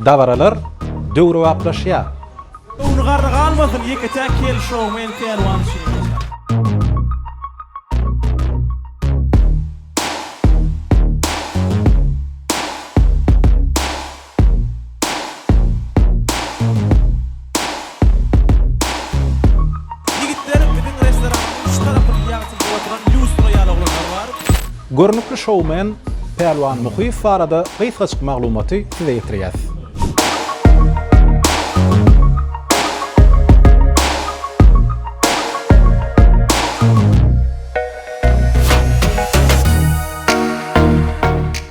Dabaralar döwrebaplaşýar. Ony garra galmasyn, ýeke-täk kel şou men pälwan şeýle. Ýigitler, biziň restoranymyň şu tarapynyň ýagtysyna oturan lýustra ýaly oglanlar bar. Görnükli şoumen Pälwan Muhyýew barada gysgajyk maglumaty size ýetirýäs.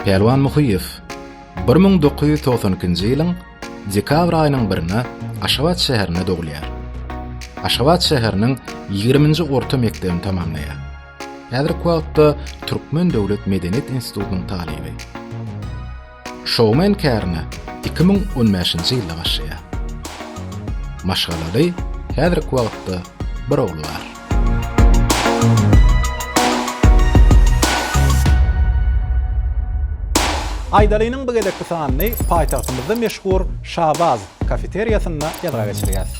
Pälwan Muhyýew. Bir müň dokuz ýüz togsan ikinji ýylyň dekabr aýynyň birinde Aşgabat şäherinde dogulýar. Aşgabat şäheriniň ýigriminji orta mekdebini tamamlaýar. Häzirki wagtda Türkmen döwlet medeniýet institutynyň talyby. Şoumen kärini iki müň on bäşinji ýylda başlaýar. Maşgalaly, häzirki wagtda bir ogly bar. Aýdalynyň bu gezekki sanyny paýtagtymyzda meşhur Şabaz kafeteriýasynda ýazga geçirýäs.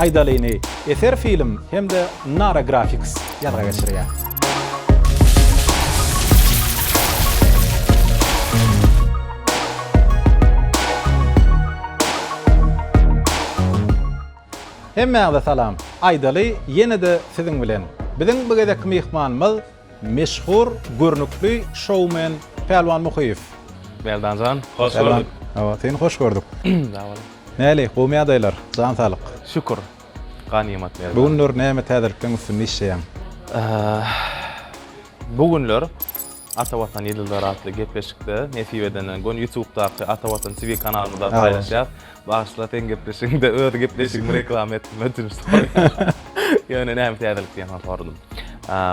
Aýdalyny Eser Film hem-de Nara Graphics ýazga geçirýär. Hemmäňize salam aýdaly ýene-de siziň bilen biziň bu gezekki myhmanymyz meşhur görnükli şoumen Pälwan Muhyýew. Meldanjan hoş gördük. Hawa seni hoş gördük. Sag boluň. Näli gowmy ýagdaýlar jan saglyk. Şükür ganymat Meldan. Bu günler näme täzelikleň üstünde işleýäň? Bu günler Ata Watan ýyldyzlary atly gepleşikde nesip edenden göni ýutubdaky Ata Watan TV kanalymyzda paýlaşýas. Bagyşla seň gepleşigiňde öz gepleşigimi reklama etdim ötünç soraýan. Ýöne näme täzelik diýen soň soradym.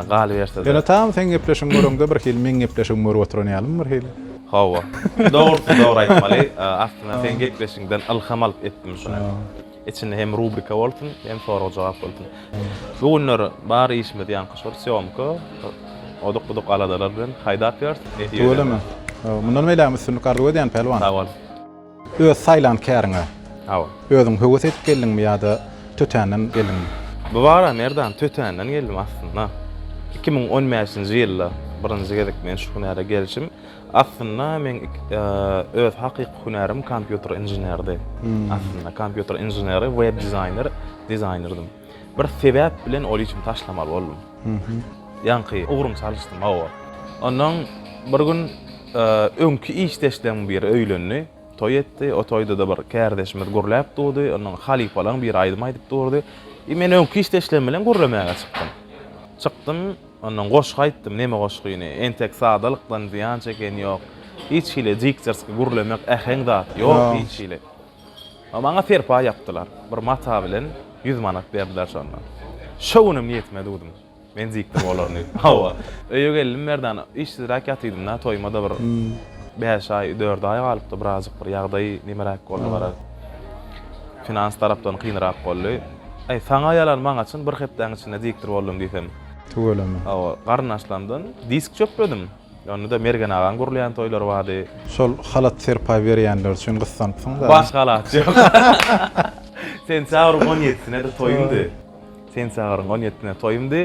Galyberse-de. Ýöne tam seň gepleşigiň görüňde bir hili meň gepleşigimi görüp oturan ýalymy bir hili? Hawa. Dogrusy dogry aýtmaly. Aslynda seň gepleşigiňden ylham alyp etdim şuny. Içinde hem rubrika bolsun, hem sorag-jogap bolsun. Bu günler bar işimiz ýaňky şol sýomka. Oduk-buduk aladalar bilen haýdap ýörüs. Tüweleme. Mundan beýlägem üstünlik arzuw edýän Pälwan. Sag bol. Öz saýlan käriňe. Hawa. Özüň höwes edip geldiňmi ýa-da tötänden geldiňmi? Bu bagra Merdan tötänden geldim aslynda. Iki müň on bäşinji ýylda birinji gezek men şu hünäre gelşim. Aslynda men öz hakyky hünärim kompýuter inženerdi. Aslynda kompýuter inženeri, web dizaýner, dizaýnerdym. Bir sebäp bilen ol işimi taşlamaly boldum. Ýaňky ugrumy çalyşdym, hawa. Ondan bir gün öňki işdeşleriň biri öýlendi, toý etdi. O toýda-da bir kärdeşimiz gürläp durdy. Ondan halypalaň biri aýdym aýdyp durdy. I men öňki işdeşlerim bilen gürlemäge çykdym. Çykdym, ondan goşgy aýtdym, neme goşgyny. Entek sadalykdan zyýan çeken ýok. Hiç hili diktorski gürlemek, äheň zat ýok hiç hili. Maňa serpaý ýapdylar. Bir mata bilen ýüz manat berdiler şonda. Şo günem niýetime düwdüm. Men dikdim olary diýip. Hawa. Öýe geldim Merdana. Işsizräk ýatydym-da, toýuma-da bir bäş aý, dört aý galypdy. Birazjyk bir ýagdaý nemeräk boldy gara. Finans tarapdan kynrak boldy. Aý, saňa ýalan, maňa çyn bir hepdäň içinde dikdir boldum diýsem. Tüweleme. Hawa. Garyndaşlarymdan disk çöpledim. Onda-da Mergen agaň gurulýan toýlary bardy. Şol halat serpaý berýänler üçin gyssanypsyň-da. Baş halat ýok. Sentýabryň on ýedisine-de toýumdy. Sentýabryň on ýedisine toýumdy.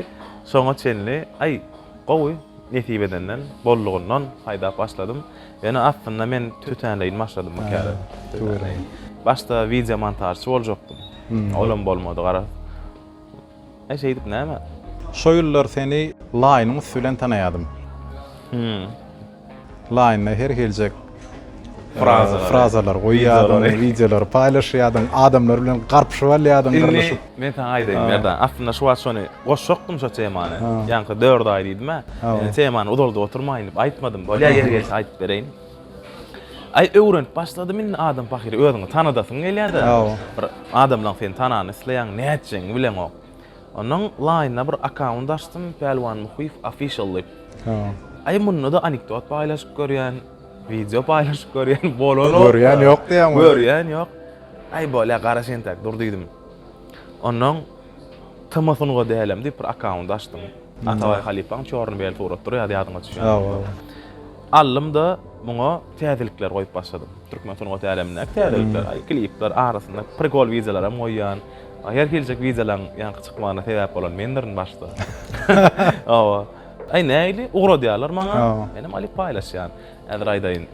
Şoňa çenli, aý, gowy, nesip edenden, boldugyndan haýdap başladym. Ýöne aslynda men tötänleýin başladym bu käre. Tötänleýin. Başda wideomontažçy boljakdym. Olam bolmady garaz. Äý şeýdip näme? Şo ýyllar seni Laýynyň üsti bilen tanaýadym. Hümm. Laýynda her hiljek Frazalary. frazalary goýýardyň, wideolary paýlaşýardyň, adamlar bilen garpyşyp alýardyň, Indi gyrlyşyp. men saňa aýdaýyn, Merdan. Aslynda şu wagt şony goşjakdym şo temany. Ýaňky dört aý diýdim-ä. Indi temany uzaldyp oturmaýyn diýip aýtmadym. Bolýa ýeri gelse aýdyp bereýin. Aý öwrenip başladym indi adam pahyr özüňi tanadasyň gelýärde. Bir adamlaň seni tanany isleýäň nätjegiňi bileňok. Ondan laýynda bir akkaunt açdym Pälwan Muhyýew official diýip. Aý munda da anekdot paýlaşyp görýän, wideo paýlaşyp görýän bolan ýok. Görýän ýok diýýäň. Görýän ýok. Aý bolýa garaş entäk dur diýdim. Ondan Tma sunga dälem diýip bir akkaunt açdym. Atabaý halypaň çorny bel surat durýardy ýadyňa düşýär. Aldym-da, muňa täzelikler goýup başladym. Türkmen sungat älemindäki täzelikler, aý, klipler, arasynda prikol wideolaram goýýan. Her hiljek wideolaň ýaňky çykmagyna sebäp bolan mendirin başda. Hawa. Aý, nähili, ugradýarlar maňa. Menem alyp paýlaşýan. Häzir aýdaýyn.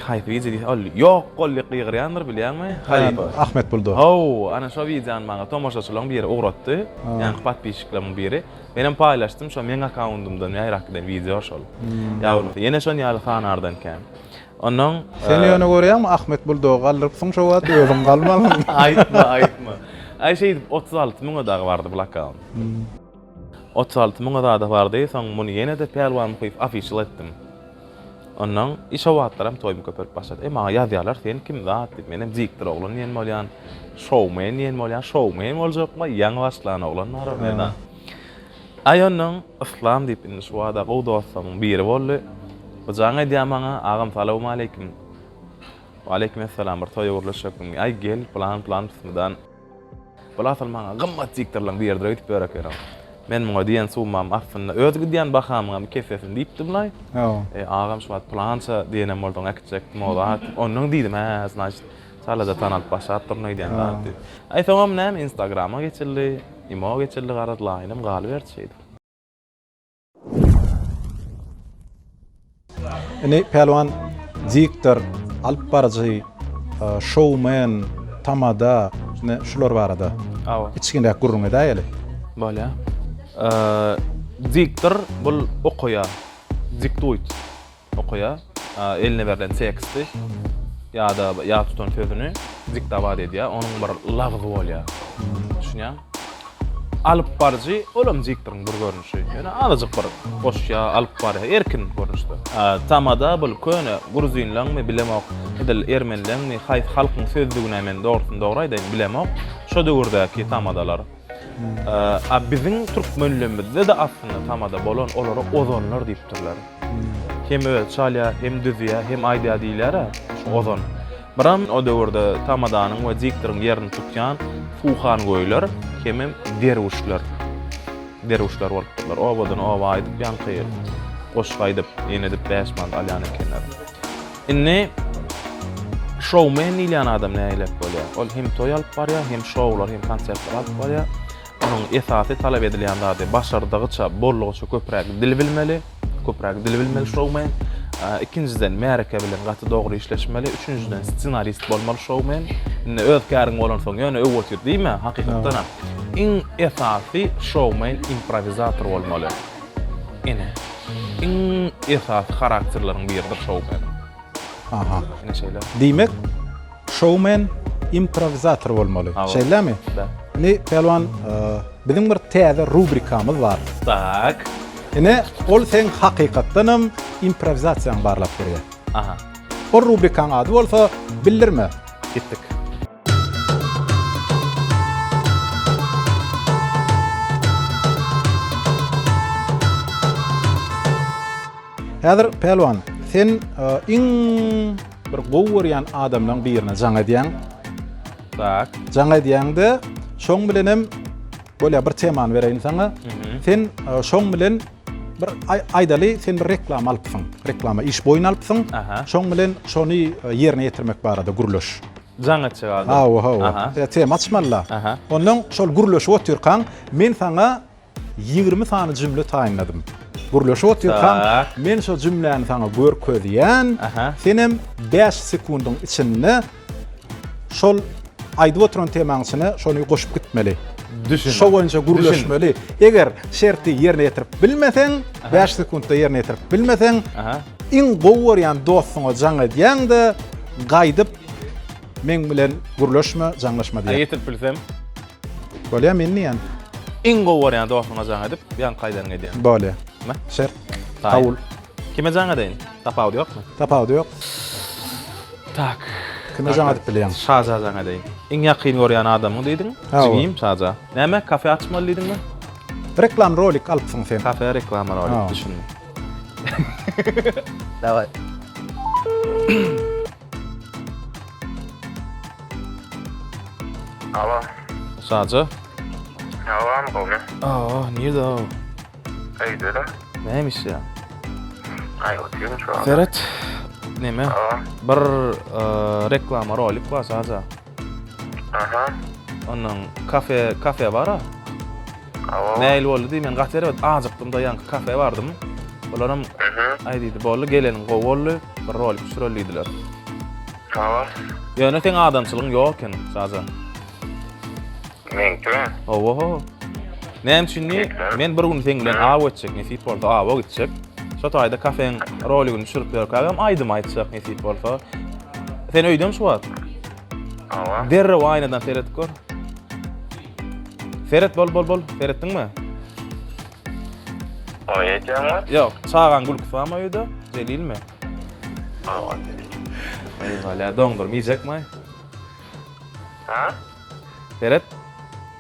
Haýsy wideo diýseň, ol ýok bol diýip gygyrýandyr, bilýäňmi? Halypa. Ahmet Buldo. Hawa, ana şo wideony maňa tomaşaçylaryň biri ugratdy. Ýaňky podpisçiklerimiň biri. Menem paýlaşdym şo meň akkaundymdan ýaýrap giden wideo şol. Ýa bolmasa ýene şon ýaly fanardan kän. Onnoň Sen ýöne görýäňmi Ahmet buldogy galdyrypsyň şo wagt özüň galmalyň. Aýtma aýtma. Aý şeýdip otuz alty müňe dagy bardy bul akkaunt. Otuz alty müňe zada bardy soň muny ýenede Pälwan Muhyýew official etdim. Onnoň şo wagtlaram toýum köpelip başlady. E, maňa ýazýarlar, Sen kim zat? diýip. Menem diktor oglan diýen bolýan, şoumen diýen bolýan. Şoumen boljakmy? Ýaňy başlan oglan bar orada. Aý, onnoň Yslam diýip indi şu bada gowy dostlarymyň biri boldy. Bu jaň edýär maňa, Agam, salowmaleýkim. Waleýkimessalam, bir toýa gürleşjekmiň? Aý, gel, plan-plan, bismydan. Bul asyl maňa gymmat diktorlaň bir ýerdire gidip ýör ekeniň. Men muňa diýen summam astynda öz gidýän bahamyňam iki esesini diýipdim-laý. E, agam şu wagt pylança diýenem bolduň, äkitjekdim o zat. Ondan diýdim, hä, znaçt, çalaja tanalyp başlap durun öýdýän zat diýip. Aý, soňam näme, Instagrama geçildi, imo geçildi garaz, laýynam galyberdi şeýdip. Ine Pälwan diktor, alyp baryjy, e, şowmen, tamada, ne şular barada. Awa. Içginräk gürrüň edäýeli. Bolýa. Eee, Diktor bul okaýar. Diktuýt. okaýar, eline berlen teksty ýa-da ýat tutan sözüni diktowat edýär, onuň bir lagzy bolýar. Düşünýäň? Alyp baryjy, ol hem diktoryň bir görnüşi. Ýöne azajyk bir goşýar, alyp barýar, erkin görnüşde. Tamada bul köne gruzynlaňmy, bilemok, edil ermenileňmi, haýsy halkyň sözlügine men dogrusyny dogry aýdaýyn, bilemok, şo döwürdäki tamadalar. A biziň türkmenlemizde-de aslynda tamada bolan olara ozanlar diýipdirler. Hem özi çalýar, hem düzýär, hem aýdýar diýilýär-ä, şu ozan. Biram o döwürde tamadanyň we diktoryň ýerini tutýan suhangöýler hemem derwüşler. Derwüşler bolupdyrlar. Obadan oba aýdyp, ýaňky goşgy aýdyp, ýene edip bäş manat alýan ekenler. Indi şoumen diýilýän adam nägilek bolýar? Ol hem toý alyp barýar, hem şoular, hem konsertler alyp barýar. Onuň esasy talap edilýän zady başardygyça, boldugyça köpräk dil bilmeli, köpräk dil bilmeli şoumen. Ikinjiden märeke bilen gaty dogry işleşmeli, üçünjiden ssenarist bolmaly şoumen. Indi öz käriň bolansoň ýöne öý otur diýme, hakykatdanam iň esasy şoumen improwizator bolmaly. Ene. Iň esasy harakterleriň biridir şoumeniň. Aha. Ene şeýle. Diýmek, şoumen improwizator bolmaly. Şeýlemi? Da. Indi Pälwan, biziň bir täze rubrikamyz bar. Tak. Ene, ol seň hakykatdan hem improwizasiýaňy barlap berýär. Aha. Ol rubrikaň ady bolsa Bildirme. Gitdik. Häzir Pälwan, sen iň bir gowy görýän adamlaryň birine jaň edýäň. Tak. Jaň edýäňde, şoň bilen hem bolýar bir temany bereýin saňa. Sen şoň bilen Bir aýdaly sen bir reklama alypsyň. Reklama iş boýun alypsyň. Şoň bilen şony e, ýerine ýetirmek barada gürleş. Jaň etjek adam. Hawa, hawa. E, tema açmalyda. Ondan şol gürleşip otyrkaň, men saňa 20 sany jümle taýynladym. Gürleşip otyrkaň, men şo jümläni saňa görkezýän, senem 5 sekundyň içinde Şol aýdyp oturan temaň içine şony goşup gitmeli. Düşündim. Şo boýunça gürleşmeli. Eger şerti ýerine ýetirip bilmeseň, 5 sekuntda ýerine ýetirip bilmeseň, iň gowy görýän dostuňa jaň edýäň-de, gaýdyp meň bilen gürleşme, jaňlaşma diýýäň. Ýetirip bilsem? Bolýar, men diýýän. Iň gowy görýän dostuňa jaň edip, ýaňky aýdanyňy edýäň. Bolýar. Şert. Kabul. Kime jaň edeýin? Tapawudy ýokmy? Tapawudy ýok. Tak. Kime jaň edip bilýäň? Şaja jaň edeýin. Iň ýakyn görýän adamyň diýdiň. Jigim Şaja. Näme, kafe açmaly diýdiňmi? Reklam rolik alypsyň sen. Kafe reklama rolik, düşündim. Daway. Alo. Şaja. Alo, Anna, gowmy? Aa, nirde o? Öýdele. Näme işleýäň? Aý, oturýan şu an. Seret. Näme? Bir reklama rolik bar sadja. Aha. Onuň kafe, kafe bar-a. Awa. Näil boldy diý, men gaty erbet ajykdym-da, ýaňky kafe bardym. Olaram aý diýdi, boldy, geleniň gowy boldy, bir rolik düşüreli diýdiler. Awa. Ýöne seň adamçylygyň ýok eken sadja. Meňkimi? Oho. Näme üçin diýip, men bir gün seň bilen aw geçjek nesip bolsa, awa gitjek. Şo taýda kafeň roligini düşürip berkägem aýdym aýtjak nesip bolsa. Sen öýdem şu wagt? Awa. Derrew aýnadan seredip gör. Seret bol bol bol, seretdiňmi? Oý etýäňmi? Ýok, çagaň gülküsi barmy öýde? Jelilmi? Awa. Eý, ýa doňdurma iýjekmi? Hä? Seret.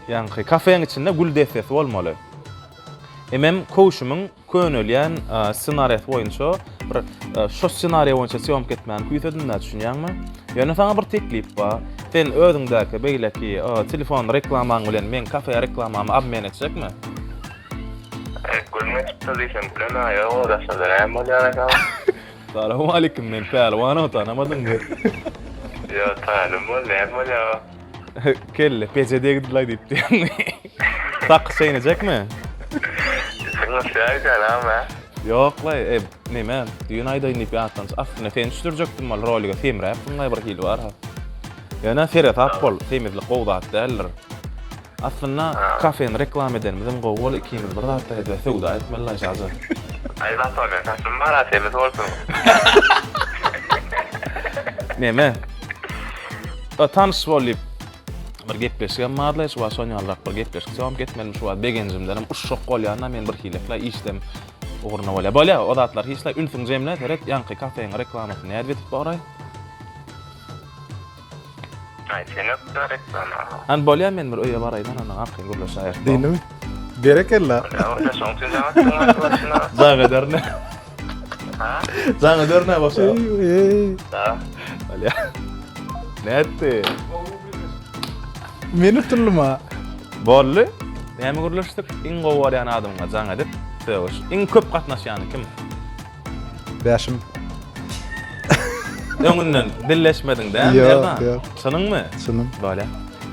Ýaňky kafeň içinde gül dessesi bolmaly. Emem köwşümiň könelýän ssenariýasy boýunça bir şo ssenariýa boýunça sýomka etmäni küýsedim-dä, düşünýäňmi? Ýöne saňa bir teklip bar. Sen özüňdäki beýleki telefon reklamaň bilen meň kafe reklamamy obmen etjekmi? Gülme çykdy diýseň, gülen-ä ýok, o daşda näme bolýar eken? Salowmalikim men Pälwanow tanamadyňmy. Ýa talim bol näme bolýa. Kelle peje degdilaý diýip diýýäňmi. Sakgy çeýnejekmi? Sen gysga aýdaýaňam a. Ýoklaý e neme düýn aýdaýyn diýip ýatlanç aslynda seni düşürjekdim ol rolige semräpdiňlaý bir hili barha. Ýöne seresap bol semizlik gowy zat däldir. Aslynda kafeni reklama edenimizem gowy bol ikimiz bir zatda hede söwda etmeli la jaja. Aý Zatolyň saçymy bara temiz bolsun. Neme? Ba tanyş bol diýip bir gepleşigem barla hiç wagt şon ýalyrak bir gepleşik sowam ketmelimi şu wagt begenjimdenem uşşak bolýanda men bir hileklä işdem ugruna bolýa. Bolýa o zatlar hiç la ünsüň jemle seret ýaňky kafeň reklamasyny nädip etip boraý. Ay sen öp da reklama. An bolýa men bir öýe baraýyn anana arkaýyn gürleşäýeris. Diýdimi? Berekella. Öňde şoň üçin jaň etdim ben bolşuna. Jaň ederine. Ha? Jaň ederine bolşa. Da. Bolýa. Nätdi? Men utundym ha. Boldy. Näme gürleşdik? Iň gowy görýän adamyňa jaň edip sögüş. Iň köp gatnaşýany kim? Bäşim. Öňünden dilleşmediň dä, Merdan? Ýok, ýok. Çynyňmy? Çynym. Bolýar.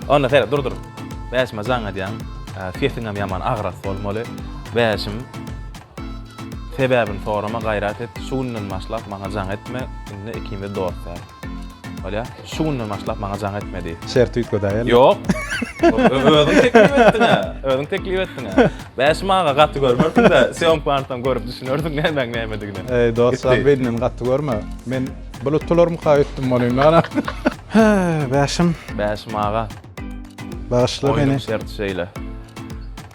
Onda seret, dur, dur. Bäşime jaň edýäň. Sesiňem ýaman agras bolmaly. Bäşim, sebäbini sorama, gaýrat et. Şu günden başlap maňa jaň etme. Indi ikimiz dost däl. Bolýa. Şu günden başlap maňa jaň etmedi. Şerti üýtgedäý ýa. Ýok. Özüň teklip etdiňä. Özüň teklip etdiňä. Bäşim aga gaty görmersiňdä, sýomka barsaň görüp düşünersiň nämäň nämedigine. Eý dost jan beýnini gaty görme. Men blutularmyka öýtdüm bolýyn ana. Hä, Bäşim. Bäşim aga. Bagyşla meni. Oýnuň şerti şeýle.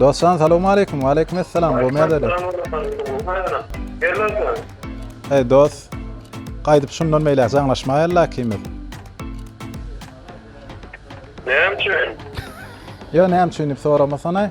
Dostjan salawmaleýkum. Waleýkum assalam. Bu merdeli. Hey dost. Gaýdyp şundan meýle jaňlaşmaýarlar ikimiz. Näme üçin? Ýa näme üçin diýip soramasana.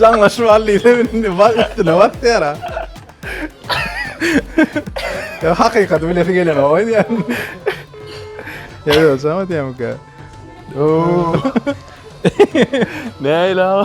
Jaňlaşyp al diýse indi bak üstüne bak diýär. Ya hakikat bilesi gelen o ya. Ya yo sama diýemka. Oo. Ne ila?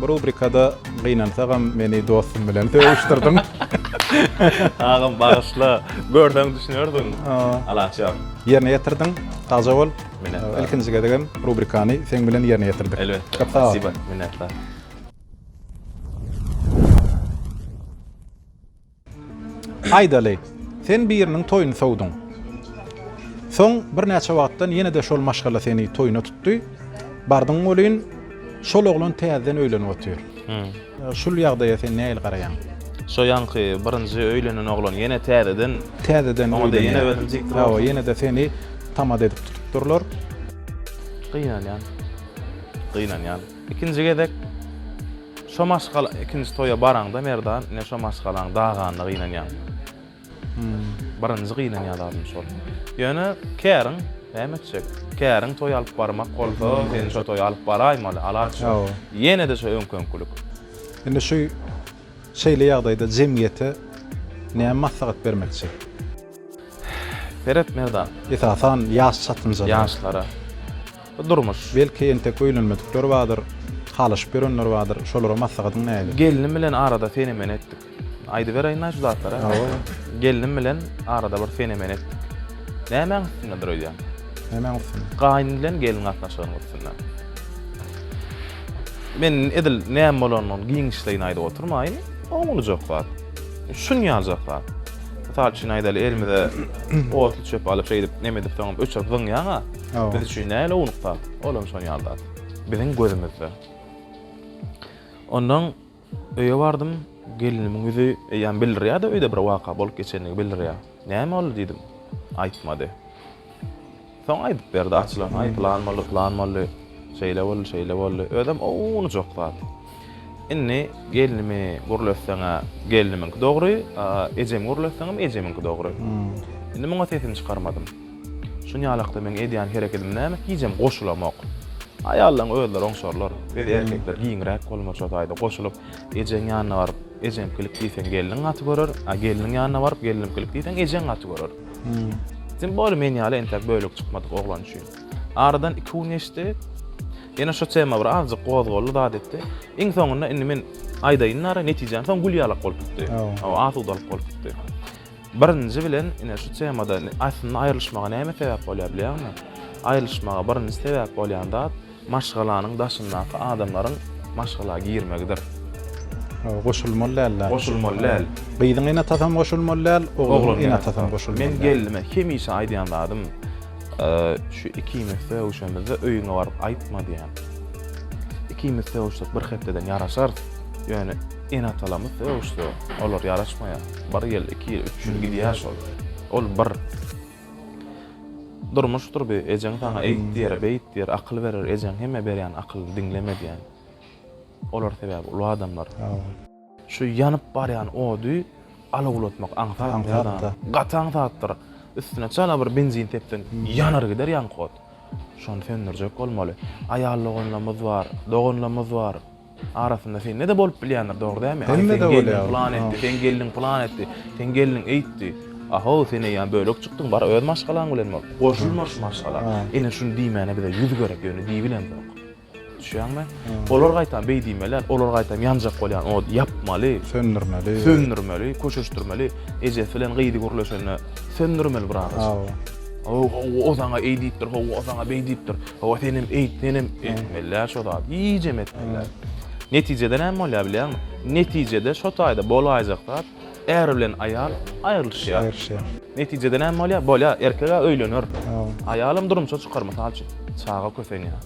Bu rubrikada gynansagam meni dostum bilen sögüşdirdiň. Agam bagyşla. Görseň düşünersiň. Alaç ýok. Ýerine ýetirdiň. Sagja bol. Minnetdar. Ilkinji gezegem rubrikany seň bilen ýerine ýetirdik. Elbetde. Köp sag bol. Minnetdar. Aýdaly, sen biriniň toýuny sowduň. Soň birnäçe wagtdan ýene-de şol maşgala seni toýuna tutdy. Bardyň welin, şol oglan täzeden öýlenip otyr. Şul ýagdaýa sen nähili garaýaň? Şo ýaňky birinji öýlenen oglan ýene täzeden. Täzeden öýlenýär. Ýene özüni jikdir. Hawa, ýene-de seni tamada edip tutupdyrlar. Gynanýan. Gynanýan. Ikinji gezek. Şo maşgala ikinji toýa baraňda Merdan ine şo maşgalaň daganyna gynanýaň. Hum. Birinji gynanýan zadym şol. Ýöne käriň näme etjek. Käriň toý alyp barmak bolsa seni şo toýa alyp baraýmaly, alaç ýok. Ýene-de şo öňki-öňkülik. Indi şu şeýle ýagdaýda jemgyýete näme maslahat bermekçi? Seret Merdan. Esasan ýaş çatynjalara. Ýaşlara. Bu durmuş. Belki entek öýlenmedikler bardyr, halaşyp ýörenler bardyr. Şolara maslahatyň nähili? Gelnim bilen arada seni-meni etdik. Aýdybereýin-aý şu zatlary. Hawa. Gelnim bilen arada bir seni-meni etdik. Nämäň üstündedir öýdýän? Nämäň üstünde? Gaýyn bilen gelin gatnaşygynyň üstünde. Men edil näme bolanyny giňişleýin aýdyp oturmaýyn. Oňuljak zat. Şunýaljak zat. Mysal üçin aýdaly elimize otly çöp alyp şeýdip neme edipsoňam öçürip zyňýaň-a. Biz üçin näle ownuk zat, ol hem şon ýaly zat. Biziň gözümizde. Ondan öýe bardym, gelnimiň ýüzi eýýäm bildirýär-de öýde bir waka bolup geçenini bildirýär. Näme boldy diýdim. Aýtmady. Soň aýdyp berdi açylan, aý plan boldy, plan boldy, şeýle boldy, şeýle boldy. Özem ownujak zat. Indi gelnimi gürletseň-ä gelnimiňki dogry, ejemi gürletseňem ejemiňki dogry. Indi muňa sesimi çykarmadym. Şunýalykda meň edýän herekedim näme? Hijem goşulamok. Aýallaň özleri oňşarlar. Biz erkekler giňräk bolmaly şo taýda goşulyp, ejeň ýanyna baryp, ejemkilik diýseň gelniň gaty görer, a gelniň ýanyna baryp, gelnimkilik diýseň ejeň gaty görer. Tim bole men ýaly entäk bölek çykmadyk oglan üçin. Aradan iki gün geçdi. Ýene şo tema bir azjyk gozgaldy, zat etdi. Iň soňunda indi men aýdaýyn nara netijäni soň gül ýalak bolup gitdi. Asudalyk bolup gitdi. Birinji bilen, ine, şu temada aslynda aýrylyşmaga näme sebäp bolýar bilýäňmi? Aýrylyşmaga birinji sebäp bolýan zat maşgalanyň daşyndaky adamlaryň maşgala girmegidir. Goşulmaly däl-de. Goşulmaly däl. Gyzyň eneatasam goşulmaly däl, ogluň eneatasam goşulmaly däl. Men gelnime hemişe aýdýan zadym, Şu ikimiz sögüşemizde öýüňe baryp aýtma diýýän. Ikimiz sögüşsek bir hepdeden ýaraşarys. Ýöne. Ene-atalarymyz sögüşse, olar ýaraşmaýar. Bir ýyl, iki ýyl, üç ýyl gidýär şol. Ol bir durmuşdyr bu. Ejeň saňa eýt diýer, beýt diýer, akyl berer. Ejeň hemme berýän akylyny diňleme diýen. Olar sebäbi uly adamlar. Şu ýanyp barýan ody alawlatmak aňsat zat. Gaty aňsatdyr. Üstüne çala bir benzin sepseň, ýanar gider ýaňky ot. Şony söndürjek bolmaly. Aýal doganlarymyz bar, doganlarymyz bar. Arasynda sende-de bolup bilýändir, dogry dämi? Aý, seň gelniň pylan etdi, seň gelniň pylan etdi, seň gelniň eýtdi. A-how, sen eýýäm bölek çykdyň, bar öz maşgalaň bilen bol. Goşulma şu maşgala. Ine, şuny diýmäne bize ýüz gerek, ýöne diýibilemzok. Düşýäňmi? Olar gaýtam beý diýmeli, olar gaýtam ýanjak bolýan ody ýapmaly. Söndürmeli. Söndürmeli, köşeşdirmeli. Ejesi bilen gyzy gürleşende söndürmeli bir agajyk. Hawa. Hawa, o saňa eý diýipdir, hawa, o saňa beý diýipdir. Hawa senem eýt, senem etmeliä şo zady, iýjem etmeliä. Netijede näme bolýar bilýäňmi? Netijede şo taýda bolaýjak zat, är bilen aýal aýrylyşýar. Aýrylyşýar. Netijede näme bolýar? Bolýa, erkeg-ä öýlener. Aýalam durmuşa çykar, mysal üçin. Çaga kösenýär.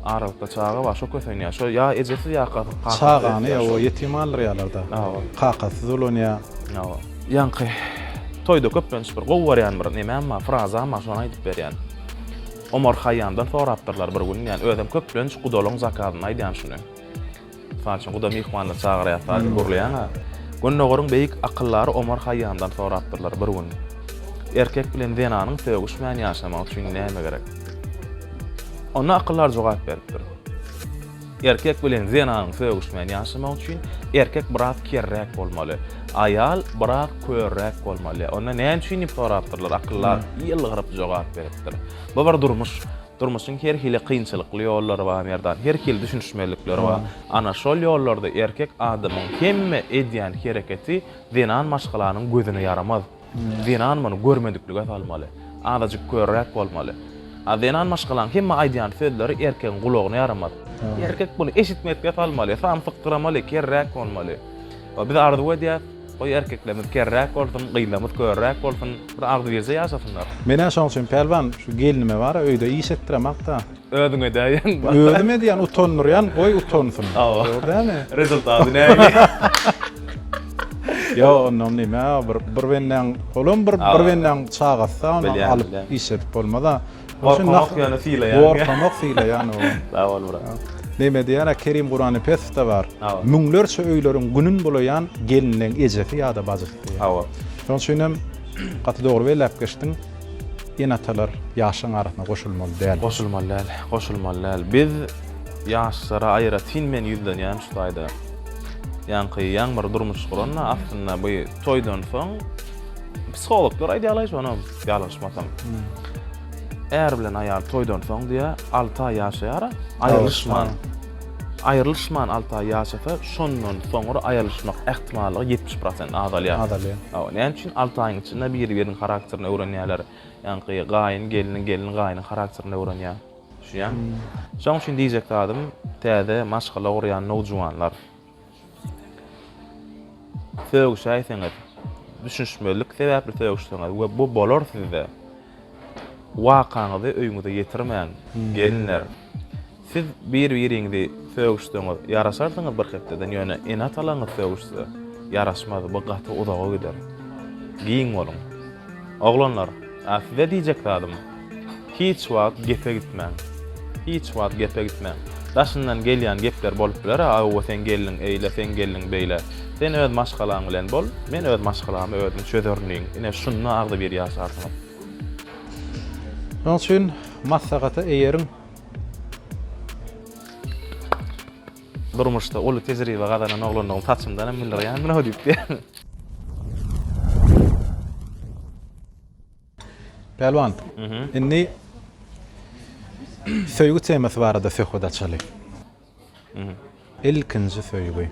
Aralykda çaga bar, şo kösenýär. Şo ýa ejesiz ýa kakasyz öýdýär. Çagany ýa-o ýetim galdyrýarlar-da. Hawa. Kakasyz dolanýar. Hawa. Ýaňky toýda köplenç bir gowy barýan bir nemem bar, frazam bar, şony aýdyp berýän. Omar Haýýamdan sorapdyrlar bir gün, ýani özem köplenç gudalyň zakazynda aýdýan şuny. Mysal üçin, guda myhmanyny çagyrýar, sazy gurlaýan-a. Gündogaryň beýik akyldary Omar Haýýamdan sorapdyrlar bir gün, Erkek bilen zenanyň sögüşmän ýaşamagy üçin näme gerek? Onda akyldar jogap beripdir. Erkek bilen zenanyň sögüşmän ýaşamagy üçin erkek biraz kerräk bolmaly. Aýal biraz körräk bolmaly. Onda näme üçin diýip sorapdyrlar. Akyldar ýylgyryp jogap beripdir. Bu bir durmuş. Durmuşyň her hili kynçylykly ýollary bar Merdan. Her hili düşünişmezlikleri bar. Ana şol ýollarda erkek adamyň hemme edýän hereketi zenan maşgalanyň gözüne ýaramaz. Zenan muny görmediklige salmaly. Azajyk körräk bolmaly. A zenan maşgalaň hemme aýdýan sözleri erkegiň gulagyna ýaramaz. Erkek muny eşitmedikge salmaly, samsykdyramaly, kerräk bolmaly. We biz arzuw edýäs, goý erkeklerimiz kerräk bolsun, gyzlarymyz körräk bolsun, bir agzybirje ýaşasynlar. Menä şoň üçin Pälwan şu gelnime bara öýde iş etdiremakda. Özüň edäýeň. Özüm edýän utandyrýan goý utansyn. Hawa. Dogry dälmi. Rezultaty näme. Ýa ondan näme bir bir bendäň olam bir bir bendäň çagasy ony alyp iş edip bolmada. Gorkamak ýöne sylaýan. Gorkamak sylaýan o. Sag bol brat. Näme diýýärä Kerim Guranipesow-da bar. Müňlerçe öýleriň günün bulaýan gelniň ejesi ýa-da bajysy diýýär. Hawa. Şonuň üçin hem gaty dogry belläp geçdiň. Ene-atalar ýaşlaryň arasyna goşulmaly däl. Goşulmaly däl, goşulmaly däl. Biz ýaşlara aýratyn men ýüzlenýän şu taýda. Ýaňky Ýaňmyr durmuş guranda aslynda bu toýdan soň psihologlar aýdýarlaý şony ýalňyşmasam. Är bilen aýal toýdan soň diýýär alty aý ýaşaýara aýrylyşman. Aýrylyşman alty aý ýaşasa, şondan soňra aýrylyşmak ähtimallygy ýetmiş prosent azalýar. Azalýar. Hawa, näme üçin? Alty aýyň içinde biri-biriniň harakterini öwrenýärler. Ýaňky gaýyn gelniň, gelin gaýynyň harakterini öwrenýär. Düşünýäňmi? Şonuň üçin diýjek zadym, täze maşgala gurýan nowjuwanlar, Sögüşäýseňiz, düşünişmezlik sebäpli sögüşseňiz we bu bolar sizde, wakaňyzy öýüňize ýetirmäň, gelinler. Siz bir-biriňizi sögüşseňiz, ýaraşarsyňyz bir hepdeden, ýöne ene-atalaryňyz sögüşse, ýaraşmaz, bu gaty uzaga gider. Giň boluň. Oglanlar! A size diýjek zadym, hiç wagt gepe gitmäň. Hiç wagt gepe gitmäň. Daşyndan gelýän gepler bolup biler-ä, Aowa seň gelniň eýle, seň gelniň beýle. Sen öz maşgalaň bilen bol, men öz maşgalamy özüm çözerin diýiň. Ine, şunda agzybir ýaşarsyňyz. Şonuň üçin maslahata eýeriň. Durmuşda uly tejribe gazanan oglandygymy saçymdan hem bildirýändir-ow diýip. Pälwan, indi söýgi temasy barada söhbet açaly. Ilkinji söýgi.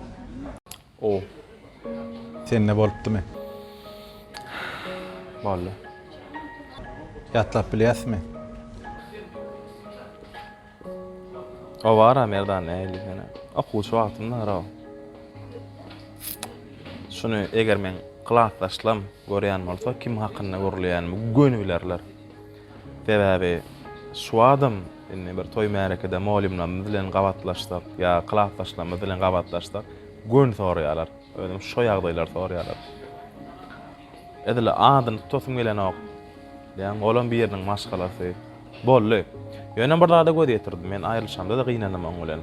O. Sende bolupdymy? Boldy. Ýatlap bilýäsmi? O bar-a Merdan nähili sene? Okuwçy wagtymdara-ow. Şuny eger meň klasdaşlam görýän bolsa, kim hakynda gürleýänimi göni bilerler. Sebäbi şu adam, indi bir toý-märekede mugallymlarymyz bilen gabatlaşsak ýa klasdaşlarymyz bilen gabatlaşsak, göni soraýarlar. Özüm şo ýagdaýlary soraýarlar. Edil adyny tutasym gelenok. Diýýän, olam biriniň maşgalasy. Boldy. Ýöne bir zada göz ýetirdim. Men aýrylyşamda-da gynandym oň bilen.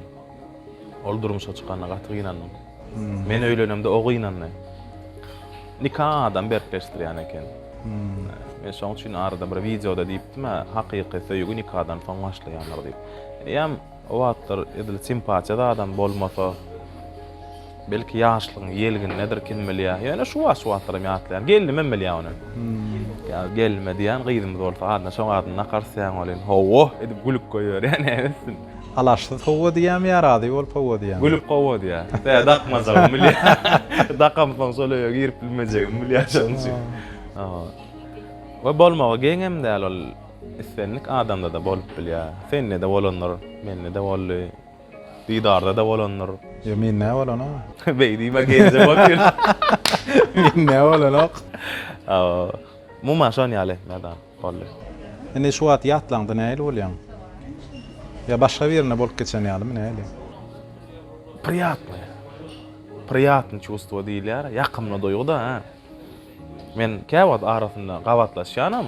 Ol durmuşa çykanda gaty gynandym. Men öýlenemde o gynandy. Nika adam berkleşdirýän eken. Men şoň üçin arada bir wideoda diýipdim-ä, hakyky söýgi nikadan soň başlaýandyr diýip. Eýýäm o wagtlar edil simpatiýa zadam bolmasa, Belki ýaşlygyň ýelgindedir, kim bilýär. Ýöne şu wagt-şuwagtlaram ýatlaýar. Gelnimem bilýär ony. Ýa gelnime diýýän, gyzymyz bolsa adyna şoň adyny nakarys diýýän welin, hawa! edip gülüp goýberýär, näetsin. Alaçsyz hawa diýýärmi ýa razy bolup hawa diýýärmi? Gülüp hawa diýýär. Bä, dakmajagym bilýär. Dakamsoň şol öýe girip bilmejegimi bilýär şoň üçin. Hawa. We bolmagy geňem däl ol. Islendik adamda-da bolup bilýär. Sende-de bolandyr, mende-de boldy. Didarda-da bolandyr. Ýo, mende bolanok. Beý diýme, geýinje bol ýöne. Mende bolanok. Hawa. Umuman şon ýaly etmeli-da. Boldy. Indi şu wagt ýatlaňda nähili bolýaň? Ýa başga birine bolup geçen ýalymy, nähili? Priýatnyý. Priýatnyý çuwstwo diýilýär. Ýakymly duýgy-da. Men käwagt arasynda gabatlaşýanam,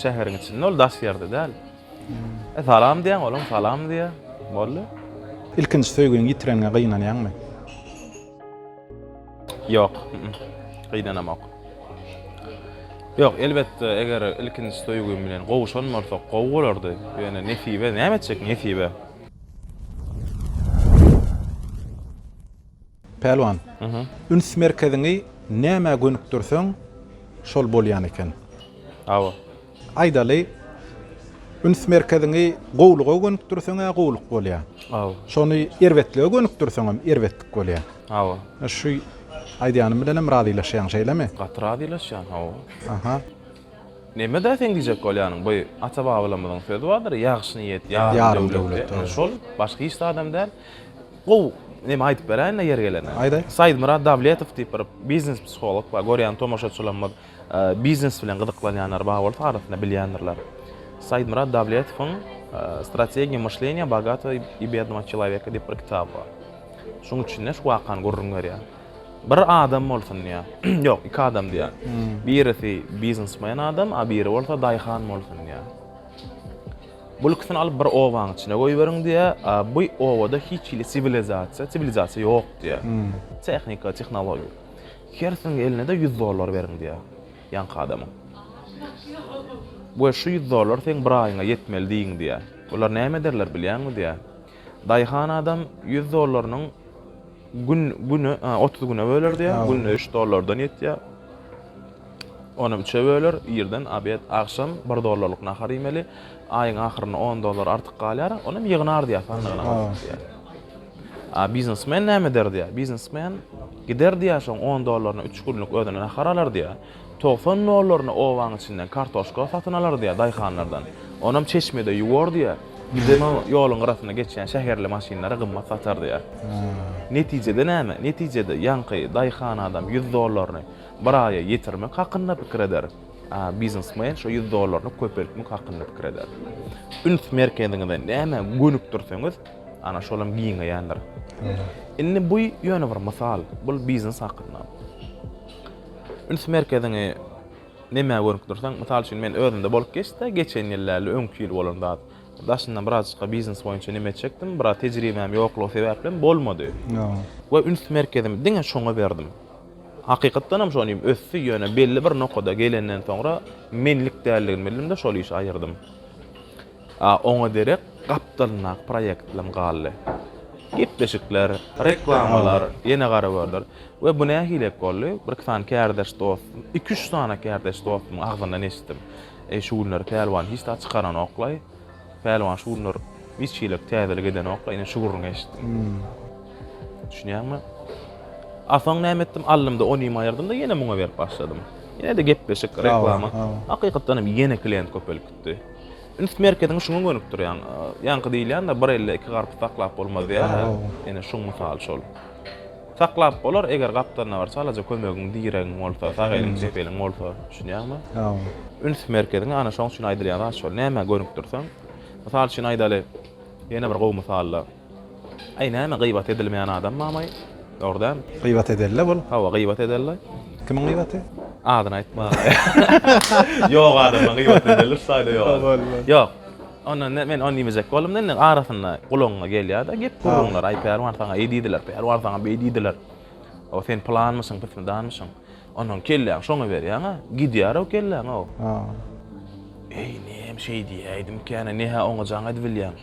şäheriň içinde, ol daş ýerde däl. E, salam diýýän, olam salam diýýär. Boldy. Ilkinji söýgüňi ýitireniňe gynanýaňmy? Ýok, gynanamok. Ýok, elbetde, eger ilkinji söýgim bilen gowuşan bolsak, gowy bolardy. Ýöne nesibe, näme etjek nesibe? Pälwan, üns merkeziňi nämä gönükdirseň, şol bolýan eken. Hawa. Aýdaly, üns merkeziňi gowulyga gönükdirseň-ä gowulyk bolýar. Hawa. Şony erbetlige gönükdirseňem erbetlik bolýar. Hawa. Şu aýdýanym bilenem razylaşýaň, şeýlemi? Gaty razylaşýan, hawa. Aha. Neme-dä seň diýjek bolýanyň? Bu ata-babalarymyzyň sözi bardyr, Ýagşy niýet ýarym döwlet diýip. Şol, başga hiç zadam däl. Gowy, neme aýdyp beräýin-le ýeri gelende. Aýt, aýt. Saidmyrat Dawletow diýip bir biznes-psiholog bar. Görýän tomaşaçylarymyz biznes bilen gyzyklanýanlar bar bolsa arasynda bilýändirler. Saidmyrat Dawletowyň Strategiýa myşleniýa bogatawa i biednowa çelaweka diýip bir kitaby bar. Şuň içinde şu wakany gürrüň berýär. Bir adam bolsun diýýär. Ýok, iki adam diýýär. Birisi biznesmen adam, a biri bolsa daýhan bolsun diýýär. Bul ikisini alyp bir obaň içine goýberiň diýýär, a bu obada hiç hili siwilizasiýa, siwilizasiýa ýok diýýär. Tehnika, tehnologiýa. Hersiniň eline-de ýüz dollar beriň diýýär ýaňky adama. We şu ýüz dollar seň bir aýyňa ýetmeli diýiň diýýär. Olar näme ederler bilýäňmi diýýär. Daýhan adam ýüz dollarynyň gün güne otuz güne bölerdi ýa günde üç dollardan ýetýä ony üçe böler irden abed agşam bir dollarlyk nahar iýmeli aýyň ahyrynda on dollar artyk galýar onam ýygnardy ýa sandygyna goýardy ýa a biznesmen näme ederdi ýa biznesmen giderdi ýa şoň on dollaryna üç günlük özüne nahar alardy ýa Togsan nollaryna obaň içinden kartoşka satyn alardy-ýa daýhanlardan. Onam çeşmede ýuwardy-ýa. Bizem o ýoluň gyrasynda geçýän şäherli maşynlara gymmat satardy-ýa. Netijede näme? Netijede ýaňky daýhan adam ýüz dollaryny bir aýa ýetirmek hakynda pikir eder, a biznesmen şo ýüz dollaryny köpeltmek hakynda pikir eder. Üns merkeziňizi nämä gönükdirseňiz, ana şolam giňeýändir. Indi bu ýöne bir mysal, bu biznes hakynda. Üns merkeziňi nämä gönükdirseň, mysal üçin, men özümde bolup geçse, geçen ýyl däl-de, öňki ýyl bolan zat. Daşyndan birazajykka biznes boýunça neme etjekdim, biraz tejribäm ýoklugy sebäplem bolmady. We üns merkezimi diňe şoňa berdim. Hakykatdan hem şony ösdi, ýöne belli bir nokada gelenden soňra menlik däldigini bildim-de, şol işi aýyrdym. A oňa derek gapdalyndaky proýektlam galdy. Gepleşikler, reklamalar, ýene gara görler. We bu nähilek boldy? Birki sany kärdeş dostum, iki-üç sany kärdeş dostumyň agzyndan eşitdim. Eý, şu günler Pälwan hiç zat çykaranokla-aý. Pälwan şu günler hiç hili täzelik edenokla, ine şu gürrüňi eşitdim. Düşünýäňmi? A soň näme etdim? Aldym-da onymy aýyrdym-da ýene muňa berip başladym. Ýene-de gepleşik, reklama. Hakykatdan hem ýene klient köpelipdi. tutdy. Üns merkeziňi şuňa gönükdirýäň. Ýaňky diýilýändir, bir elde iki garpyz saklap bolmaz diýýärler. Ine şuň mysaly şol. Saklap bolar, eger gapdalynda bir çalaja kömegiň, diregiň bolsa, sag eliň, çep eliň bolsa, düşünýäňmi? Üns merkeziňi ana şoň üçin aýdylýan zat şol. Nämä gönükdirseň, mysal üçin aýdaly, ýene bir gowy mysalla. Aý näme gybat edilmeýän adam mamaý dogry dämi. Gybat edella bul. Hawa gybat edella. Kimiň gybaty? Adyny aýtma. Ýok adamyň gybaty edilir saýda ýok. Ýok. Onda men ony diýmejek boldum da indi arasynda gulagyňa gelýärde gep gürrüňler aý Pälwan saňa eý diýdiler Pälwan saňa beý diýdiler. O sen pylanmyşyň pismidanmyşyň. Ondan kelläň şoňa berýäňä gidýärow kelläňow. Eý nem şeý diýäýdimkäne ne-hä oňa jaň edibilýäň.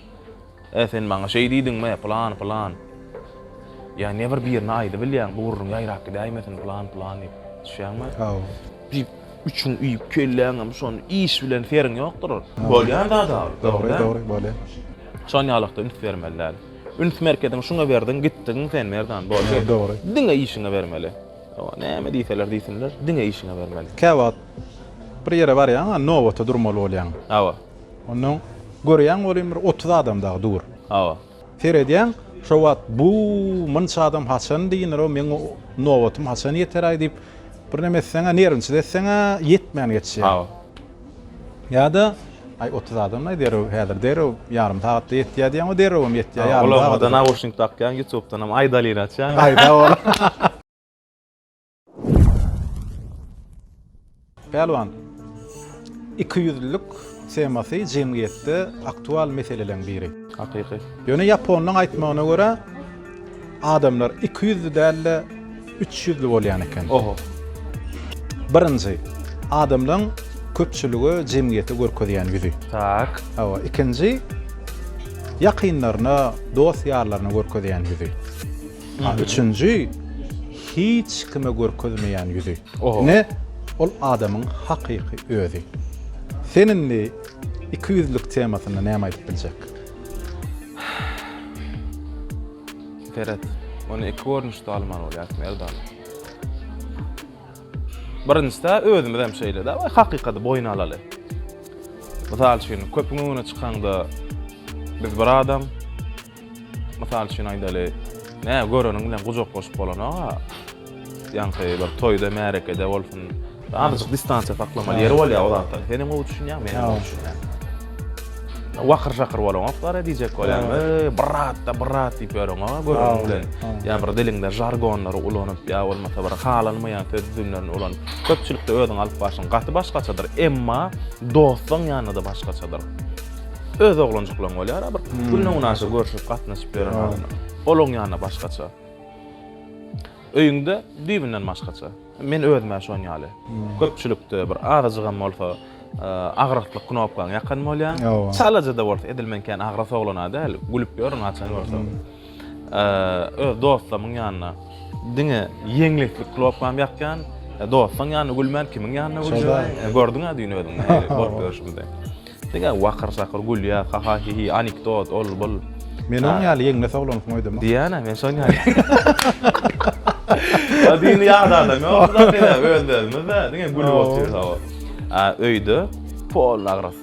Ä sen maňa şeý diýdiňmi, pylan, pylan. Ýa ne bir birine aýdybilýäň, bu gürrüň ýaýrap gidäýmesin, pylan, pylan diýip. Düşýäňmi? Haw. Diýip, üçüň üýüp, kelläňem şony iş bilen seriň ýokdur. Bolýan zat ol, dogry. Dogry, bolýar. Şonýalykda üns bermeli däl. Üns merkeziňi şuňa berdiň, gitdigiň sen, Merdan, boldy. Dogry. Diňe işiňe bermeli. Hawa, näme diýseler diýsinler, diňe işiňe bermeli. Käwagt bir ýere barýaň-a, nobata durmaly bolýaň. Hawa. Onnoň görýäň welin bir otuz adam dagy dur. Hawa. Seredýäň, şo wagt bu munça adam haçan diýner-ow, meň nobatym haçan ýeter-aý diýip, birneme etseň-ä, nerwniçilik etseň-ä, ýetmän geçýär. Hawa. Ýa-da, Aý, otuz adam-laý, derrew, häzir derrew, ýarym sagatda ýetýär diýýäň-ow, derrewem ýetýär, ýarym sagat. Gulagyňa-da naushnik dakýaň, ýutubdanam aýdalyny açýaň. Aýda ola. Pälwan, ikiýüzlülik temasy jemgyýetde aktual meseleleriň biri. Hakyky. Ýöne ýaponyň aýtmagyna görä, adamlar ikiýüzli däl-de, üçýüzli bolýan eken. Oho. Birinji, adamlaryň köpçülige, jemgyýete görkezýän ýüzi. Tak. Hawa, ikinji, ýakynlaryna, dost-ýarlaryna görkezýän ýüzi. A üçünji hiç kime görkezmeýän ýüzi. Ine ol adamyň hakyky özi. Sen indi ikiýüzlik temasynda näme aýdyp biljek? Seret, ony iki görnüşde almaly bolýar Merdan. Birinjisi-de özümiz hem şeýle-de we hakykaty boýun alaly. Mysal üçin, köpüň öňüne çykaňda biz bir adam, Mysal üçin aýdaly, nä göreniň bilen gujaklaşyp bolanok-a. Ýaňky bir toýda, märekede bolsun, azajyk distansiýa saklamaly ýeri bolýar o zatlaryň. Sen hem gowy düşünýäň, men hem gowy düşünýän. Wakyr-şakyr bolaňoklar-a diýjek bolýan. Eý, brat-da, brat diýip ýöreňok-a göreniň bilen. Ýa bir diliňde žargonlary ulanyp, ýa bolmasa bir halanmaýan söz düzümlerini ulanyp, köpçülikde özüňi alyp barşyň gaty başgaçadyr, emma dostuň ýanynda-da başgaçadyr. Öz oglanjyklaň bolýar a bir günde günaşa görşüp gatnaşyp ýören adam. Olaň ýanyna başgaça. Öýüňde düýbünden başgaça. Men özüm-ä şoň ýaly. Köpçülikde bir azajygam bolsa agraklyk knopkaň ýakan bolýar. Çalaja-da bolsa edil men kän agras oglan-a däl, gülüp ýörün haçan görsem. öz dostlarymyň ýanyna diňe ýeňleklik klopkam ýakýan, dostuň ýanyna gülmän kimiň ýanyna gülýän? Gördüň-ä düýn özüň bolup ýörşümizi. Diňe wakyr-sakyr gülýär, haha-hihi, anekdot, ol-bul. Men oň ýaly ýeňles oglansyň öýdemok. Diýýän-ä, men şoň ýaly. Düýn ýat adam ýok-da, özlerimiz-de diňe gülüp otyrys. Öýde polny agras.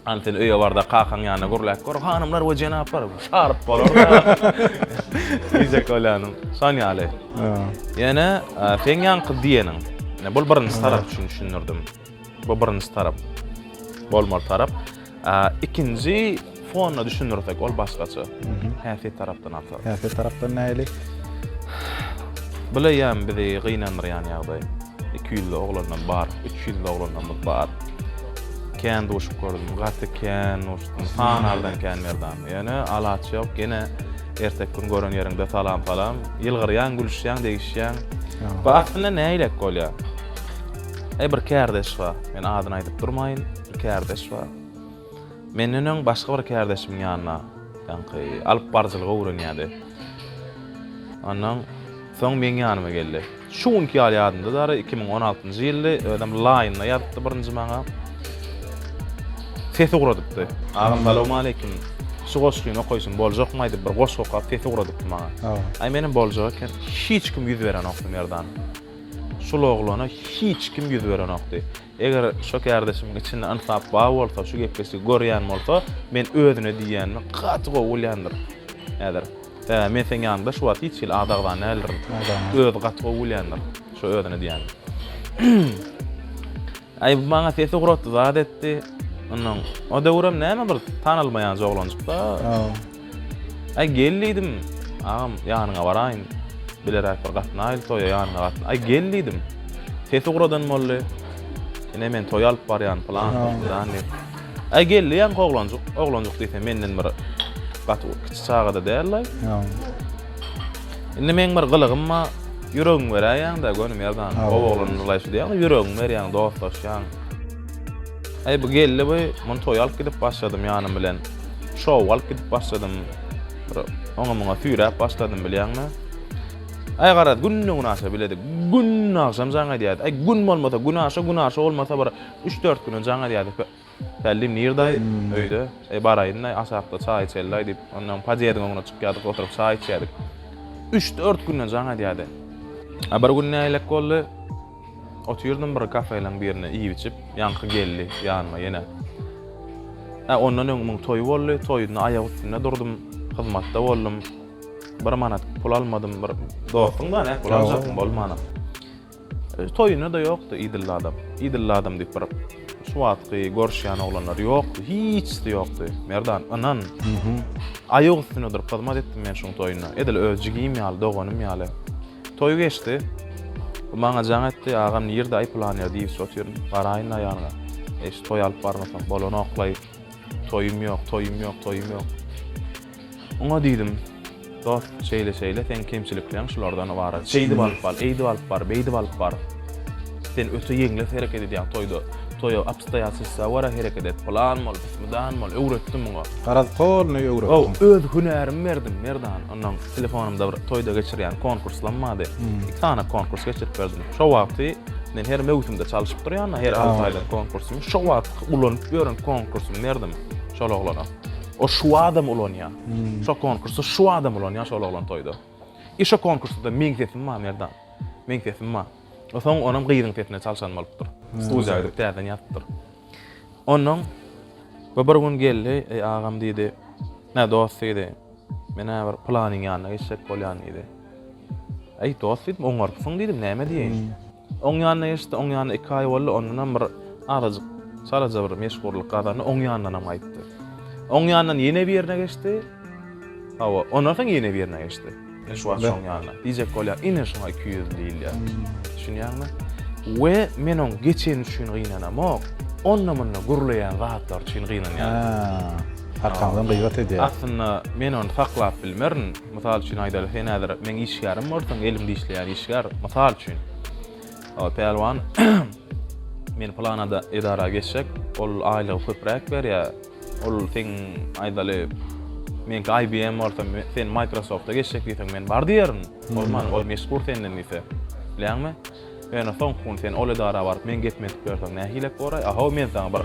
Hany sen öýe bar-da kakaň ýanyna gürläp gör, hanymlar we jenaplar, şaryp bolar-da. Diýjek bolýanym, şon ýaly. Ýöne seň ýaňky diýeniň, bul birinji tarap üçin düşündirdim. Bu birinji tarap, bolmaly tarap. Ikinji, Fonyna düşündirsek ol başgaça. Häsiýet tarapdan alsak. Häsiýet tarapdan nähili? Bileýän bizi gynandyrýan ýagdaý. Iki ýüzli oglandan bar, üç ýüzli oglanlarymyz bar. Kän duşup gördüm, gaty kän duşdum. Sanardan kän Merdan. Ýöne alaç ýok, gene erteki gün gören ýeriňde salam salam. Ýylgyrýaň, gülüşýäň, degişýäň. Bu aslynda nähilek bolýar? E, bir kärdeş bar. Men adyny aýdyp durmaýyn. Bir kärdeş bar. Menden öň başga bir kärdeşimiň ýanyna ýaňky alyp baryjylygy öwrenýärdi. Ondan soň meň ýanyma geldi. Şu günki ýaly ýadymdadyr, iki müň on altynjy ýyldy, özem Line-da ýazypdy birinji maňa. Ses ugradypdy. Agam salowmaleýkim. Şu goşgyny okaýşym boljakmy aýdyp bir goşgy okap ses ugradypdy maňa. Aý menem boljak eken. Hiç kim ýüz berenokdy Merdan. Şul oglana hiç kim ýüz berenokdy. Eger şo kärdeşimiň içinde ynsap bar bolsa şu gepleşigi görýän bolsa men özüne diýýänimi gaty gowy bilýändir häzir sebäbi men seň ýanyňda şu wagt hiç hili az agzan däldirin özi gaty gowy bilýändir şo özüne diýýänini aý bu maňa sesi ugratdy zat etdi ynha o döwürem näme bir tanalmaýanjy oglanjykda. Aý gel diýdim. Agam, ýanyňa baraýyn. Bileräk bir gatnaýyl toýa, ýanyňa gatna. Aý gel diýdim. Sesi guradan boldy. Ine men toýa alyp barýan pylan, filan diýip. Aý gel diýýän oglanjyk. Oglanjyk diýsem menden bir gaty kiçi çagada däl-le. Indi meň bir gylygym bar. Ýüregiňi beräýýäň-de göni merdan. Gowy oglan ylaýşy diýýäň-de, ýüregiňi berýäň, dostlaşýaň. Aý bu geldi bu, muny toýa alyp gidip başladym ýanym bilen. şow alyp gidip başladym. Bir oňa-muňa süýräp başladym bilýäňmi? Aý garaz, günde-gün aşa biledik. Gün agşam jaň edýärdi. Aý gün bolmasa gün aşa, gün aşa bolmasa bir üç-dört güne jaň edýärdi. Pällim nirdaý, öýde. Aý baraýyn-daý, aşakda çaý içeli-daý diýip, ondan podýezdiň öňüne çykýardyk, oturyp çaý içýärdik. Üç-dört güne jaň edýärdi. A bir gün nähilek boldy? Otyrdym bir kafeleň birinde iýip-içip, ýaňky geldi ýanyma ýene. Hä, ondan öň muň toýy boldy, toýunda aýak üstünde durdum, hyzmatda boldum. Bir manat pul almadym, bir dostuň-da, nähili pul aljakdyň, bolmana. Toýuna-da ýokdy, idilli adam. Idilli adam diýip bir şu wagtky görüşýän oglanlar ýokdy, hiçsi ýokdy, Merdan, ynan. Aýak üstünde durup hyzmat etdim men şuň toýunda. Edil öz jigim ýaly, doganym ýaly. Toý geçdi. Bu maňa jaň etdi, Agam nirde-aý pylanýa diýips otyryn, garaýyn aýalyňa. Eý, şu toý alyp barmasak bolanoklaý. Toýum ýok, toýum ýok, toýum ýok. Oňa diýdim, Dost, şeýle-şeýle, seň kemçilikleň şulardan ybarat. Şeýdip alyp bar, eýdip alyp bar, beýdip alyp bar. Sen öte ýeňles hereket edýäň toýda. Toýa obstoýatelstwa görä hereket et, pylan bol, pysmydan bol, öwretdim muňa. Garaz, polny öwretdim. Öz hünärimi berdim, Merdan. Onnoň telefonymda bir toýda geçirýän konkurslam bardy. Iki sany konkurs geçirip berdim. Şo wagty men her möwsümde çalyşyp durýan-da, her alty aýda konkursymy, şo wagt ulanyp ýören konkursymy berdim şol oglana. O şu adam ulanýar. Şo konkursda şu adam ulanýar şol oglan toýda. I şo konkursda-da meň sesim bar Merdan. Meň sesim bar. O soň onam gyzyň sesine çalşan bolupdyr. Studiýa gidip täzeden ýazypdyr. Onnoň bir gün geldi, Eý agam diýdi, Nä dost diýdi, Men-ä bir pylanyň ýanyna geçjek bolýan diýdi. Äý, dost diýdim, oňaryksyň diýdim, näme diýeýin. Oň ýanyna geçdi, oň ýanyna iki aý boldy, ondanam bir azajyk, çalaja bir meşhurlyk gazandy, oň ýanyndanam gaýtdy. Oň ýanyndan ýene bir ýerine geçdi. Hawa, ondan soň ýene bir ýerine geçdi. Men şu wagt şoň ýanyna. Diýjek bolýan, ine şoňa iki ýüzli diýilýär. Düşünýäňmi? We men oň geçeni üçin gynanamok, onda-munda gürleýän zatlary üçin gynanýaryn. Arkamdan gybat edýär. Aslynda men ony saklap bilmerin. Mysal üçin aýdaly, sen häzir meň işgärim bolsaň, elim dişleýän işgär, mysal üçin. Ol pälwan, men pylan edara geçjek, ol aýlygy köpräk berýär. Ol seň aýdaly, meňki IBM bolsa, sen Microsoft-a geçjek diýseň, men bar diýerin. Bolman, ol meşhur senden diýse. Bilýäňmi? Ýöne soňky gün sen ol edara baryp meň gepimi edip ýörseň nähilek boraý? A-how men saňa bir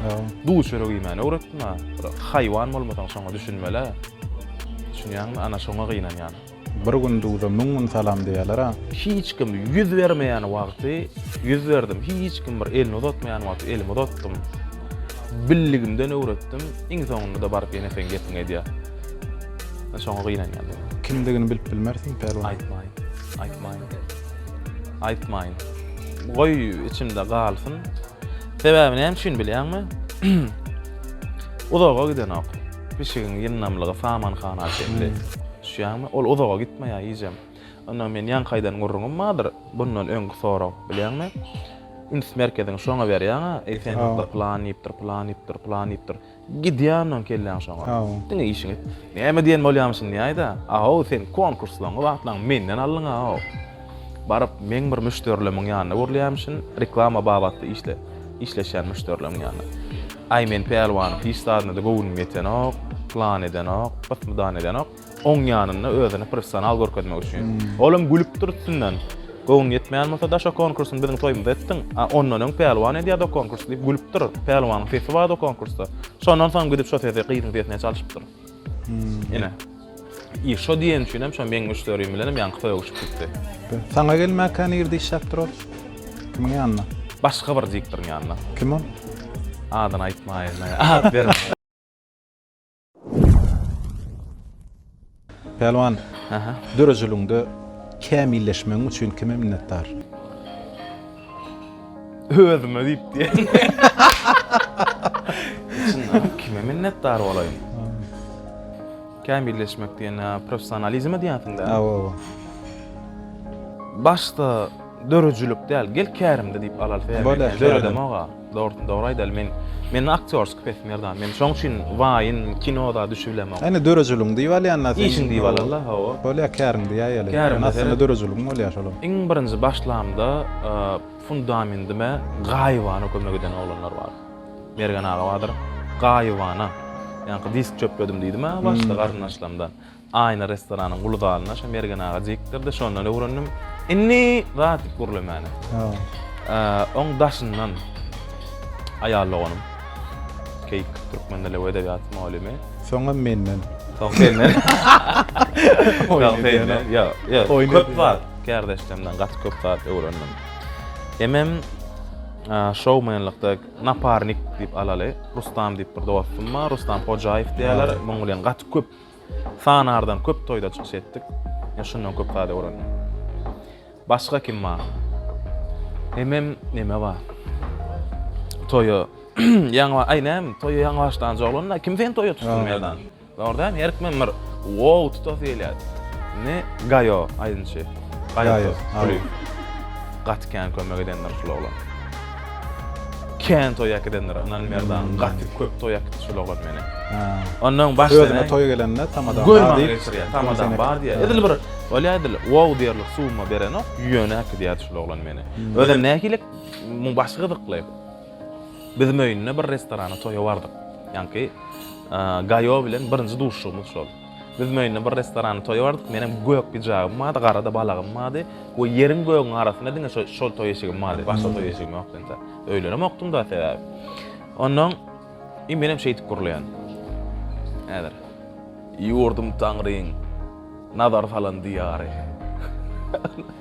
duz çörek iýmäni öwretdim-ä. Bir haýwan bolmasaň şoňa düşünmeli-ä. Düşünýäňmi? Ana şoňa gynanýan. Bir gün duza müň gün salam diýerler-ä. Hiç kim ýüz bermeýän wagty ýüz berdim, hiç kim bir elini uzatmaýan wagty elimi uzatdym. Billigimden öwretdim. Iň soňunda-da baryp ýene seň gepiňi edýär. Şoňa gynanýan men. Kimdigini bilip bilmersiň, Pälwan. Aýtmaýyn. Aýtmaýyn. Aýtmaýyn. Goý içinde galsyn. Sebäbi näme üçin bilýäňmi? Uzaga gidenok. Pişigiň ýyndamlygy samanhana çenli. Düşýäňmi? Ol uzaga gitmeýär iýjem. Onda men ýaňkaýdan gürrüňim bardyr. Bundan öňki sorag, bilýäňmi? Üns merkezini şoňa berýäň-ä. Eý, sen hakda plan iýipdir, plan iýipdir, plan iýipdir. Gidýän on kelläň şoňa. Haw. Diňe işiňi et. Näme diýen bolýamyşyn diýäýdä. Aw, sen konkurslaňňy wagtlaň menden aldyň aw. Baryp meň bir müşderilemiň ýanyna görülýämişin, reklama babatda işle, işleşýän müşderilemiň ýanyna. Aý men pälwanyň hiç zadyna-da göwnüm ýetenok, plan edenok, byt-mydan edenok. Oň ýanynda özüni professional görkezmek üçin. Ol hem gülüp dur üstünden. Göwnüne ýetmeýän bolsa da şo konkursyny biziň toýumyzda etdiň. A ondan öň Pälwan edýärdi o konkursy diýip gülüp dur. Pälwanyň sesi bardy o konkursda. Şondan soň gidip şo sesi gyzyň sesine çalşypdyr. Ine. I şo diýen üçin hem şo meň müşderim bilen hem ýaňky toýa uçup gitdi. Saňa gelmäkä nirde işläpdir ol? Kimiň ýanynda? Başga bir diktoryň ýanynda. Kim ol? Adyny aýtmaýyn. At berme. Pälwan, dörejiligiňde kämilleşmegiň üçin kime minnetdar? Özüme diýip diýen. Kime minnetdar bolaýyn? Kämilleşmek diýende professionalizme diýýänsiň-dä? Hawa. Başda dörüjilik däl, gel kärimde diýip alalysa. Döredemok-a. Dogrusyny dogry aýdaly men mende aktýorski pesim ýerda men şoň üçin waýyn kinoda düşübilemok. Ene dörejiligiň diýip alýanda sen. Işiň diýip alanda hawa. Bolýa käriň diýäýeli. Ene aslynda dörejiligiň bolýa şolam. Iň birinji başlamda fundamendime gaýybana kömek eden oglanlar bar. Mergen aga bardyr. Gaýybana. Ýaňky disk çöpledim diýdim-ä başda garyndaşlarymdan. Aýna restoranyň uly zalyna şo Mergen aga jikdirdi, şondan öwrendim. Indi zat diýip gürlemäne. Oň daşyndan aýal doganym, Keýik, türkmen dili we edebiýaty mugallymy. Soňam menden. Soň senden. Soň senden. Ýok, köp zat kärdeşlerimden gaty köp zat öwrendim. Emem şoumenlikde naparnik diýip alaly, Rustam diýip bir dostum bar, Rustam Hojaýew diýýärler. Munuň bilen gaty köp Sanardan köp toýda çykyş etdik. Men şundan köp zada öwrendim. Başga kim bar? Hemem neme bar? Toýa ýaňy aý näme? Toýa ýaňy başlanjy oglan-da, kim seni toýa tutsun Merdan? Dogry däl, her kimiň bir wow tutasy gelýär. Indi Gaýo aýdymçy. Gaýo. Gaty kän kömek edendir şul oglan. Kän toý äkidendir Anan Merdan gaty köp toý äkitdi şol oglan meni. Ondan baş Özüne toý gelende tamadan bar diýip. Görmän tamadan bar diýär. Edil bir bolýar edil wow diýerlik suwma berenok ýöne äkidýärdi şol oglan meni. Hmm. Özem nähili muň başy gyzykly. Biz möýünde bir restorana toýa bardyk. Ýaňky Gaýo bilen birinji duşuşygymyz şol. Biz Möýünde bir restoranyň toýy bardyk. Menem gök pijagym bardy, gara-da balagym bardy we ýeriň-gögüň arasynda diňe şo, şol toý eşigim bardy. Başga toý eşigim ýokdy entä. Öýlenemokdym-da sebäbi. Onnoň, i menem şeýdip gurlaýan. Häzir. Ýurdum Taňryň nazar salan diýary.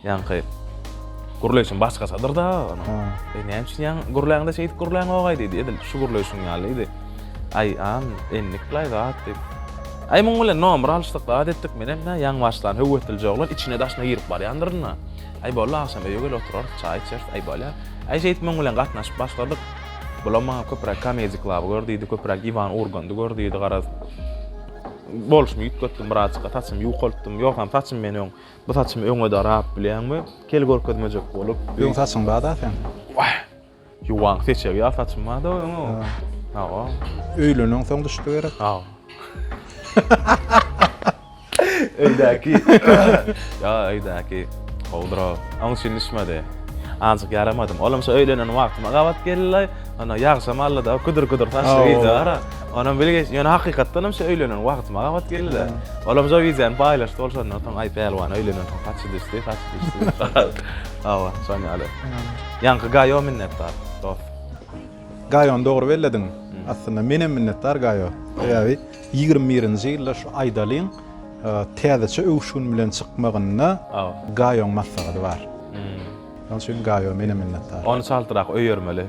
Ýaňky gürleýşim başgaçadyr-da onuň. Eý, näme üçin ýaňy gürläňde şeýdip gürläňog-aý diýdi. Edil şu gürleýşiň ýaly diýdi. Aý, an, endik bir aýbat diýip. Aý, muň bilen nomer alyşdyk, zat etdik. Menem nä, ýaňbaşdan höweslije oglan içine-daşyna girip barýandyryn-a. Aý, boldy, agşam öýe gel oturarys, çaý içeris. Aý, bolýar. Aý, şeýdip muň bilen gatnaşyp başladyk. Bulam maňa köpräk Comedy Club-y gör diýdi, köpräk Iwan Urgandy gör diýdi, garaz. Bolşumy üýtgetdim birazjyk, saçymy ýuwkaltdym. Ýogsam saçym men öň. Bu saçymy öňe darap bilýäňmi? Kel görkezmejek bolup. Öň saçyň bar-da seň. Wah! Ýuwan seçegi ýaly saçym bar-da öňe. Hawa. Öýlenensoň düşdi gerek. Hawa. Öýdäki. Ýa öýdäki. Gowudyr-a. Oň üçin düşmedi. Azajyk ýaramadym. Olam şo öýlenen wagtyma gabat geldi-laý. Ana ýagşam aldy-da, küdür-küdür saçly gyzjagaz-a. Onam bile geç, ýöne hakykatdan hem şu öýlenen wagtyma gabat geldi-de. Olam şu wideony paýlaşdy, ol şondan soň aý pälwan öýlenen soň saçy düşdi, saçy düşdi. Hawa, şoň ýaly. Ýaňky Gaýo minnetdar, dost. Gaýony dogry bellediň. Aslynda menem minnetdar Gaýo. Sebäbi ýigrimi birinji ýylda şu Aýdalyň täzeçe öwüşgin bilen çykmagynda Gaýoň maslahady bar. Şoň üçin Gaýo menem minnetdar. Ony çaltrak öýermeli.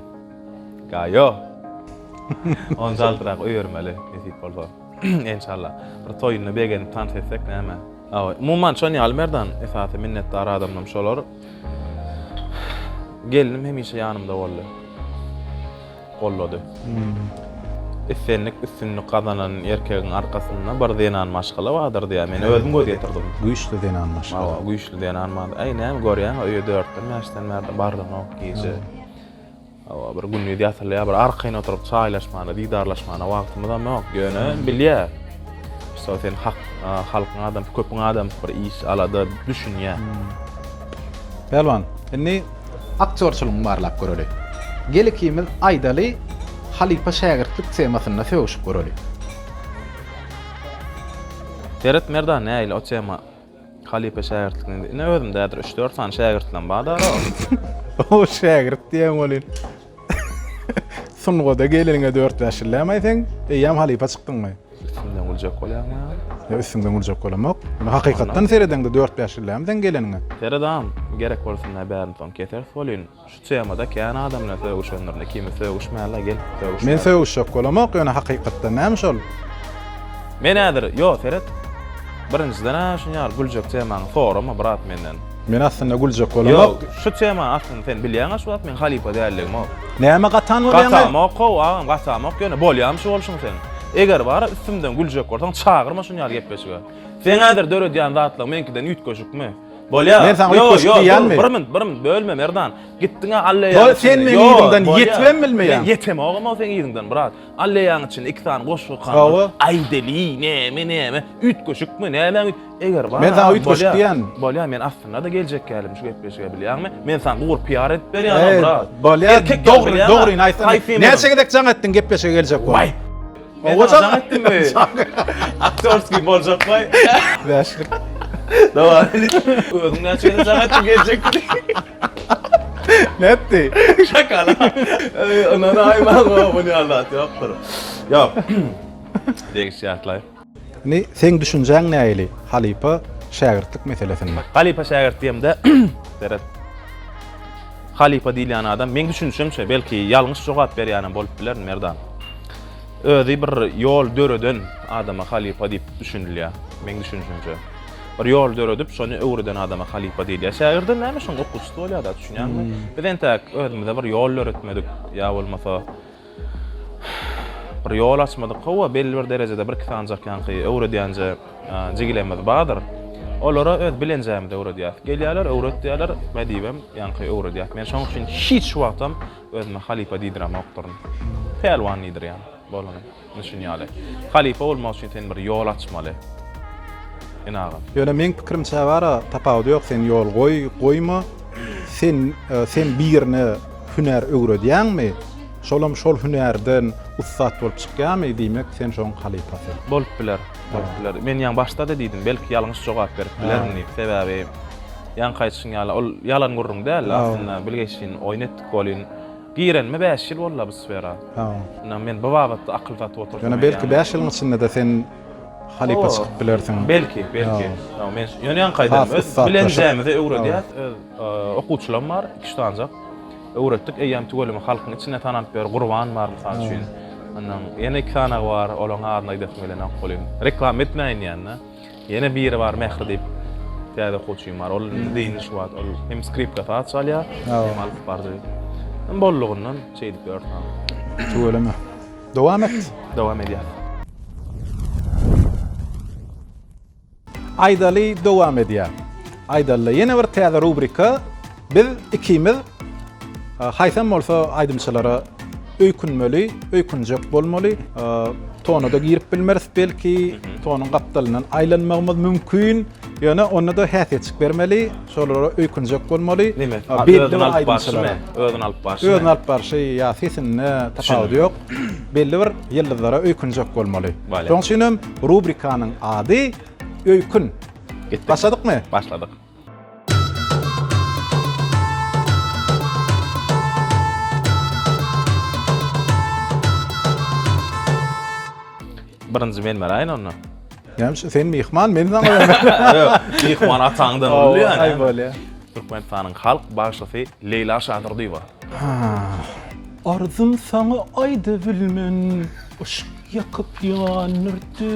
Gaýo. Ony çaltrak öýermeli, nesip bolsa. Enşalla. Bir toýunda begenip tans etsek näme? Awa, umuman şon ýaly Merdan, esasy minnetdar adamym şolar. Gelnim hemişe ýanymda boldy. Gollady. Islendik, üstünlik gazanan erkegiň arkasynda bir zenan maşgala bardyr diýýär. Men özüm göz ýetirdim. Güýçli zenan maşgala. Awa, güýçli zenan maşgala. Aý, näme görýäň-ä, öýe dörtden, bäşden bärde bardyňok gije. Hawa, bir gündiz ýatylýar, bir arkaýyn oturyp çaýlaşmana, didarlaşmana wagtymyzam ýok. Ýöne bilýär. Şo sen hak, halkyň adamsy, köpüň adamsy bir iş, alada düşünýär. Pälwan, indi aktýorçylygyňy barlap göreli. Gel ikimiz aýdaly halypa-şägirtlik temasynda sögüşip göreli. Seret Merdan, nähili o tema? Halypa şägirtlikden indi özümdädir üç dört sany şägirtlerim barda. O şägirt diýen bolýan. Sungada geleniňe dört bäş ýyl dämi sen eýýäm halypa çykdyňmy? Üstümden güljek bolýarmy? Ýa üstümden güljek bolamok. Muny hakykatdan seredeňde dört bäş ýyl dämi sen geleniňe? Seredam, gerek bolsa näbärim soň keseris welin. Şu temada kän adam bilen sögüşendirin ikimiz sögüşmällä gel sögüşmällä. Men sögüşjek bolamok ýöne hakykatdan näme şol. Men häzir ýo seret birinjiden a şuny ýaly güljek temaňy sorama brat menden. Men aslynda güljek bolamok. Ýo şu temany aslynda sen bilýäňä şu wagt men halypa däldigimok. Näme gatan bolýaňy. Gatamok how agam gatamok ýöne bolýamy şu bolşuň seň. Eger bara üstümden güljek bolsaň çagyrma şuny ýaly gepleşige. Seň häzir döredýän zatlaň meňkiden üýtgeşikmi. Bolýar. Men saňa ýok, ýok, diýýänmi? Bir minut, bir minut bölme Merdan. Gitdiňä Alla ýa. Ýok, sen meni ýerinden ýetibem bilmeýäň. Men ýetem ogam sen ýerinden, brat. Alla ýa içinde iki sany goşgy kaldy. Aýdeli, näme, näme? Üýtgeşikmi, näme? Eger bar. Men saňa üýtgeşik diýýänmi? Bolýar, men aslynda da geljek ýaly şu gepleşige bilýäňmi? Men saňa gugur PR edip berýän, brat. Bolýar, dogry, dogryny aýtsaň. Näçe gezek jaň etdiň gepleşige geljek bolup? Owa çak etdiňmi? Aktörski boljak baý. Bäşlik. Dawam edin. Özüň näçe ýere çak etdiň geljekdi. Nätdi? Şakala. Ey, Ynana aýmaň, muny alat ýokdur. Ýok. Degiş ýatlaý. Ni, seň düşünjäň nähili halypa-şägirtlik meselesinde? Halypa-şägirt diýemde, seret. Halypa diýilýän adam, meň düşünişimçe, belki, ýalňyş jogap berýänem bolup bilerin, Merdan. Özi bir ýol döreden adama halypa diýip düşünilýär, meň düşünişimçe. Bir ýol döredip, şony öwreden adama halypa diýilýär. Şägirden näme şoň okuwçysy bolýar-da, düşünýäňmi? Biz entäk özümize bir ýol döretmedik ýa bolmasa, Bir ýol açmadyk, hawa, belli bir derejede birki sanjak ýaňky öwredýänje jigilerimiz bardyr. Olara öz bilenjämizi öwredýäris. Gelýärler, öwret diýýärler, nädibem ýaňky öwredýäs. Men şoň üçin hiç wagtam özüme halypa diýdiremokdyryn. Pälwan diýdirýän bolany. Ine şuny ýaly. Halypa bolmak üçin sen bir ýol açmaly. Ine agam. Ýöne meň pikirimçä bara tapawudy ýok sen ýol goý, goýma. Sen sen birine Hünär öwredýäňmi? Şolam şol hünärden ussat bolup çykýarmy? Diýmek, sen şoň halypasy. Bolup biler, bolup biler. Men ýaňy başda-da diýdim, belki ýalňyş jogap berip bilerin diýip. Sebäbi ýaňky aýdyşyň ýaly, ol ýalan gürrüň däldi aslynda. Bilgeşleýin oýun etdik welin, girenime bäş ýyl boldy-la bu sfera. Ynha, men bu babatda akyl satyp otursam. Ýöne belki bäş ýylyň içinde-de sen halypa çykyp bilersiň. Belki, belki. Ýöne ýaňky aýdanymy, bilenjämizi öwredýäs. Okuwçylam bar, iki-üç sanjak. Öwretdik, eýýäm tüweleme halkyň içinde tanalyp ýör. Gurban bar, mysal üçin. Ondan ýene iki sanagy bar, olaryň adyny aýdasym gelenok welin, reklama etmäýin diýýän-de. Ýene biri bar, Mähri diýip, täze okuwçym bar. Ol indi-indi şu wagt, ol hem skripka saz çalýar, hem alyp baryjy. Indi boldugyndan şeý edip ýörün. Tüweleme. Dowam et. Dowam edýän. Aýdaly dowam edýär. Aýdalyda ýene bir täze rubrika Biz ikimiz haýsam bolsa aýdymçylara öýkünmeli, öýkünjek bolmaly. Tona-da girip bilmeris belki, tonuň gapdalyndan aýlanmagymyz mümkin. Ýöne onda-da häsiýetçik bermeli, şolara öýkünjek bolmaly. Özüni alyp barşy, özüni alyp barşy ýa sesinde tapawudy ýok. belli bir ýyldyzlara öýkünjek bolmaly. Şoň üçin hem rubrikanyň ady Öýkün. Başladykmy? Başladyk. Birinji men beraýyn onda. Näme sen myhman men saňa Ýok, myhman ataňdan bolýar ýa. Aý bolýar. Türkmenistanyň halk bagşysy Leýla Şadyrdyýewa. Arzym saňa aýdybilmen Yşk ýakyp ýandyrdy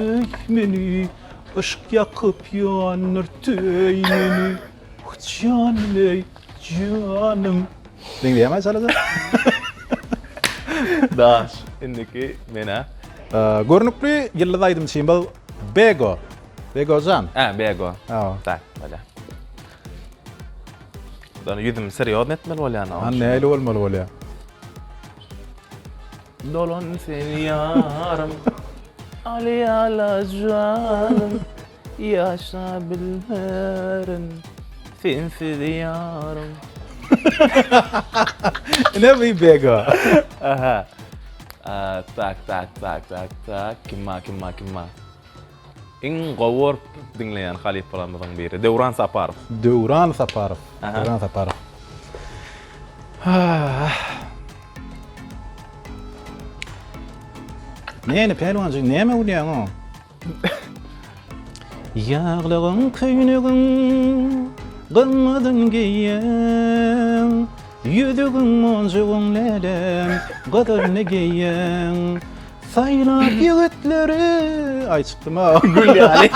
meni Yşk ýakyp ýandyrdy meni. Janym eý, janym. Diňleýäňä çalada? Daş, indiki menä. Görnükli ýyldyz aýdymçymyz Bego. Begojan. Hä, Bego. Hä. Daş, bolýar. Dana ýüzüm serýozny etmeli bolýan. Ha, näli bolmaly bolýar? Dolan seni ýarym. Aly ala janym. Ýaşabilmerin sensiz ýarym. Ine bu bego. Aha. Tak tak tak tak tak kimma kimma kimma. Iň gowy görüp diňleýän halypalarymyzyň biri Döwran Saparow. Döwran Saparow. Döwran Saparow. Näne Pälwanjyk näme gülýäňo? Ýaglygyň köýnegin gymmadym geýýän, Ýüzügiň monjugyn lälem gyzylyny geýýän. Saýlap ýigitleri, aý çykdym-a. Gül ýaly,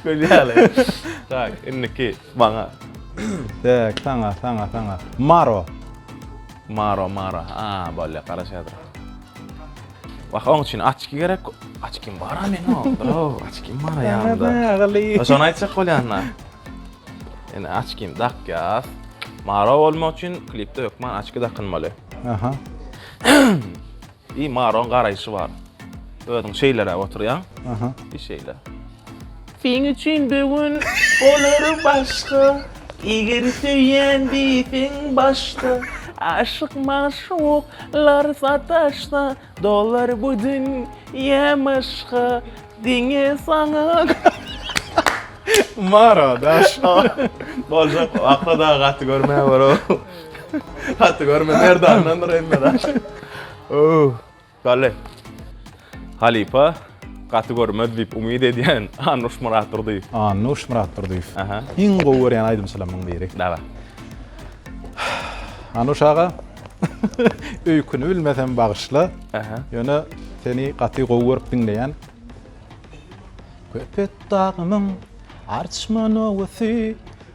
gül ýaly. Tak, indiki maňa. Tak, saňa, saňa, saňa. Maro. Maro, maro. A, bolýa, garaşýardyr. Wah, oň üçin açki gerek. Açkim bar-a meniň onda. Açkim bar aýamda. Şony aýtjak bolýan-da. Ene açkim dakýas. Maro bolmak üçin klipde hökman açki dakynmaly. Aha. I Maroň garaýşy bar. Özüň şeýleräk oturýaň. Aha. I şeýle. Seň üçin böwün bolar başga Eger söýýän diýseň başda Aşyk magşuk lar sataşsa Dolar bu dün ýä maşga Diňe saňa Mara daş Boljak Akla dagy gaty görme bro Gaty görme Merdandandyr emme daş Ooh. Bale. Halypa, gaty görmez diýip umyt edýän Annuş Myratdurdyýew. Annuş Myratdurdyýew. Aha. Iň gowy görýän aýdymçylarymyň biri. Dawa. Annuş aga, öýküni bilmesem bagyşla. Aha. Ýöne seni gaty gowy görüp diňleýän. Köpetdagymyň arçman owasy,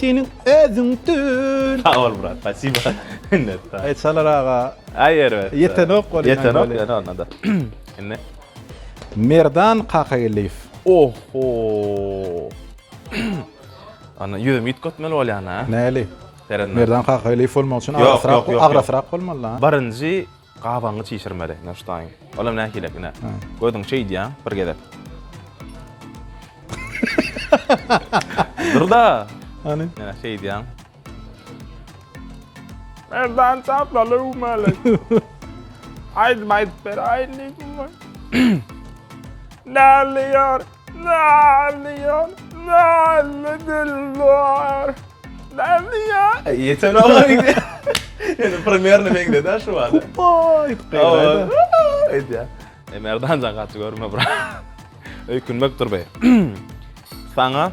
Seniň özüň tül. Sag bol brat, spasiba. Minnetdar. Aý Salar aga. Aý erbet. Ýetenok bolýa. Ýetenok ýöne onda-da. Indi. Merdan Kakageldiýew. Oho. Ana ýüzüm üýtgetmeli bolýan-a. Näli? Merdan Kakageldiýew bolmak üçin agrasrak, agrasrak bolmaly-da. Birinji Gabaňy çişirmeli, Newşteýn. Olam nähili, ine, gözüň şeýdýä, bir gezek. Dur-da! Hany? Ine, şeýdýäň. Merdan çaplaly öwmeli. Aýdym aýdyp beraýynmy? Näliýär? Nalýan, nalýa dilbar. Nalýa. Ýeten ola indi. Indi primerni meňzedi şu wagt. Hopaý, gyrada. Aýdýa. E Merdan jan gaty görme bra. Öýkünmek dur be. Saňa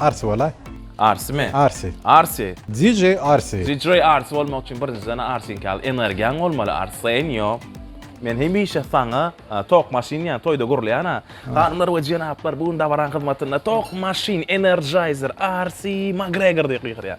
Arsy bolaý. Arsymy? Arsy. Arsy. DJ Arsy. DJ Arsy bolmak üçin birinjiden Arsyňky ýaly energiýaň bolmaly Arsen ýok. Men hemişe saňa Tok maşyn diýýän toýda gurulýan-a. Hanymlar we jenaplar bu gün dabaranyň hyzmatynda Tok maşyn, Energizer, Arsy, Magregor diýip gygyrýar.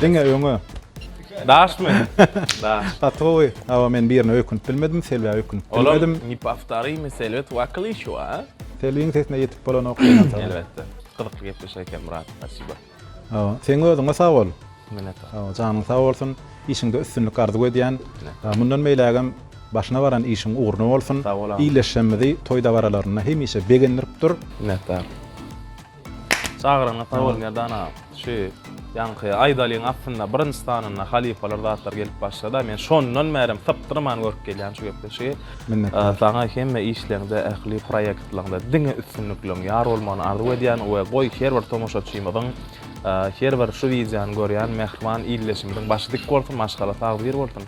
Diňe öňe. Daşmy? Daş. Gaty gowy. Hawa men birine öýkünip bilmedim, Selbä öýkünip bilmedim. Olam ne повторимый Selbet Wakylyşew a. Selbiň sesine ýetip bolanok diýen sag bol. Elbetde. Gyzykly gepleşik eken Myrat. Spasibo. Hawa. Seň özüňe sag bol. Minnetdar. Hawa, janyň sag bolsun. Işiňde üstünlik arzuw edýän. Mundan beýlägem başyna baran işiň ugruna bolsun. Sag bol. Ildeşlerimizi toý dabaralarynda hemişe begendirip dur. Minnetdar. Çagyryňyz sag bol Merdan agam. Şu ýaňky aýdalyň aslynda birinji sanynda halypalar zatlar gelip başlady-a men şondan bärem sypdyrman görüp gelýän şu gepleşigi. Minnetdar. Saňa hemme işleňde ähli proýektleňde diňe üstünlikleň ýar bolmagyny arzuw edýän we goý her bir tomaşaçymyzyň her bir şu wideony görýän mähriban ildeşimiziň başy dik bolsun maşgala sag diri bolsun.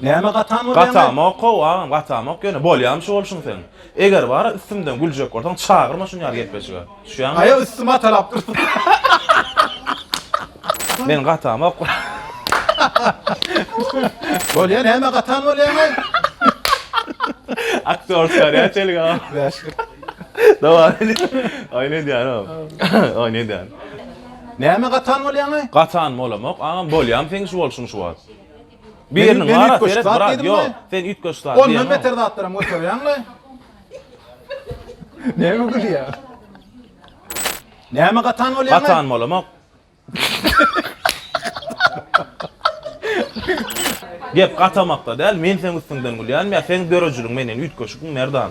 Näme gatam bolýaň? Gatamok how agam, gatamok ýöne bolýamy şu bolşuň seň. Eger bara üstümden güljek bolsaň çagyrma şuny ýaly gepleşige. Düşýäňmi? Aýa üstümi atalap dursuň. Men gatamok. Bolýa näme gatan bolýaň aý? Aktýor çykarýa çelik agam. Dawam edin. Aý ne diýýän agam. Aý ne diýýän. Näme gatan bolýaňy? Gatan bolamok agam, bolýam seň şu bolşuň şu wagt. Biriniň Men wara üýtgeşik seret zat brat, diýdim ýok, we- sen üýtgeşik zat Ondan diýemok. beter zatlaram göterýäň we Näme gülýäň? Näme gatan bolýaňy? Gatan bolamok. Gep gatamakda däl, men seň üstüňden gülýänim ýa seň dörejiligiň menden üýtgeşikmi Merdan?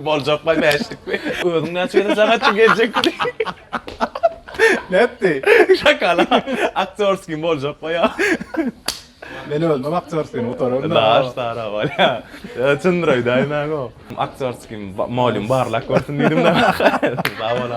Boljak baý bäşlikmi? Özüň näçe gezek jaň etdiň geljekmi? Nätdi? Şakala. Aktýorskiý boljak baý ýa. Men özümem aktýorskiý gutararyn. Daş tarap bolýa. Çyndyr öýdäýdim ägo. Aktýorskiý molýum barlak görsün diýdim de. Sag bol.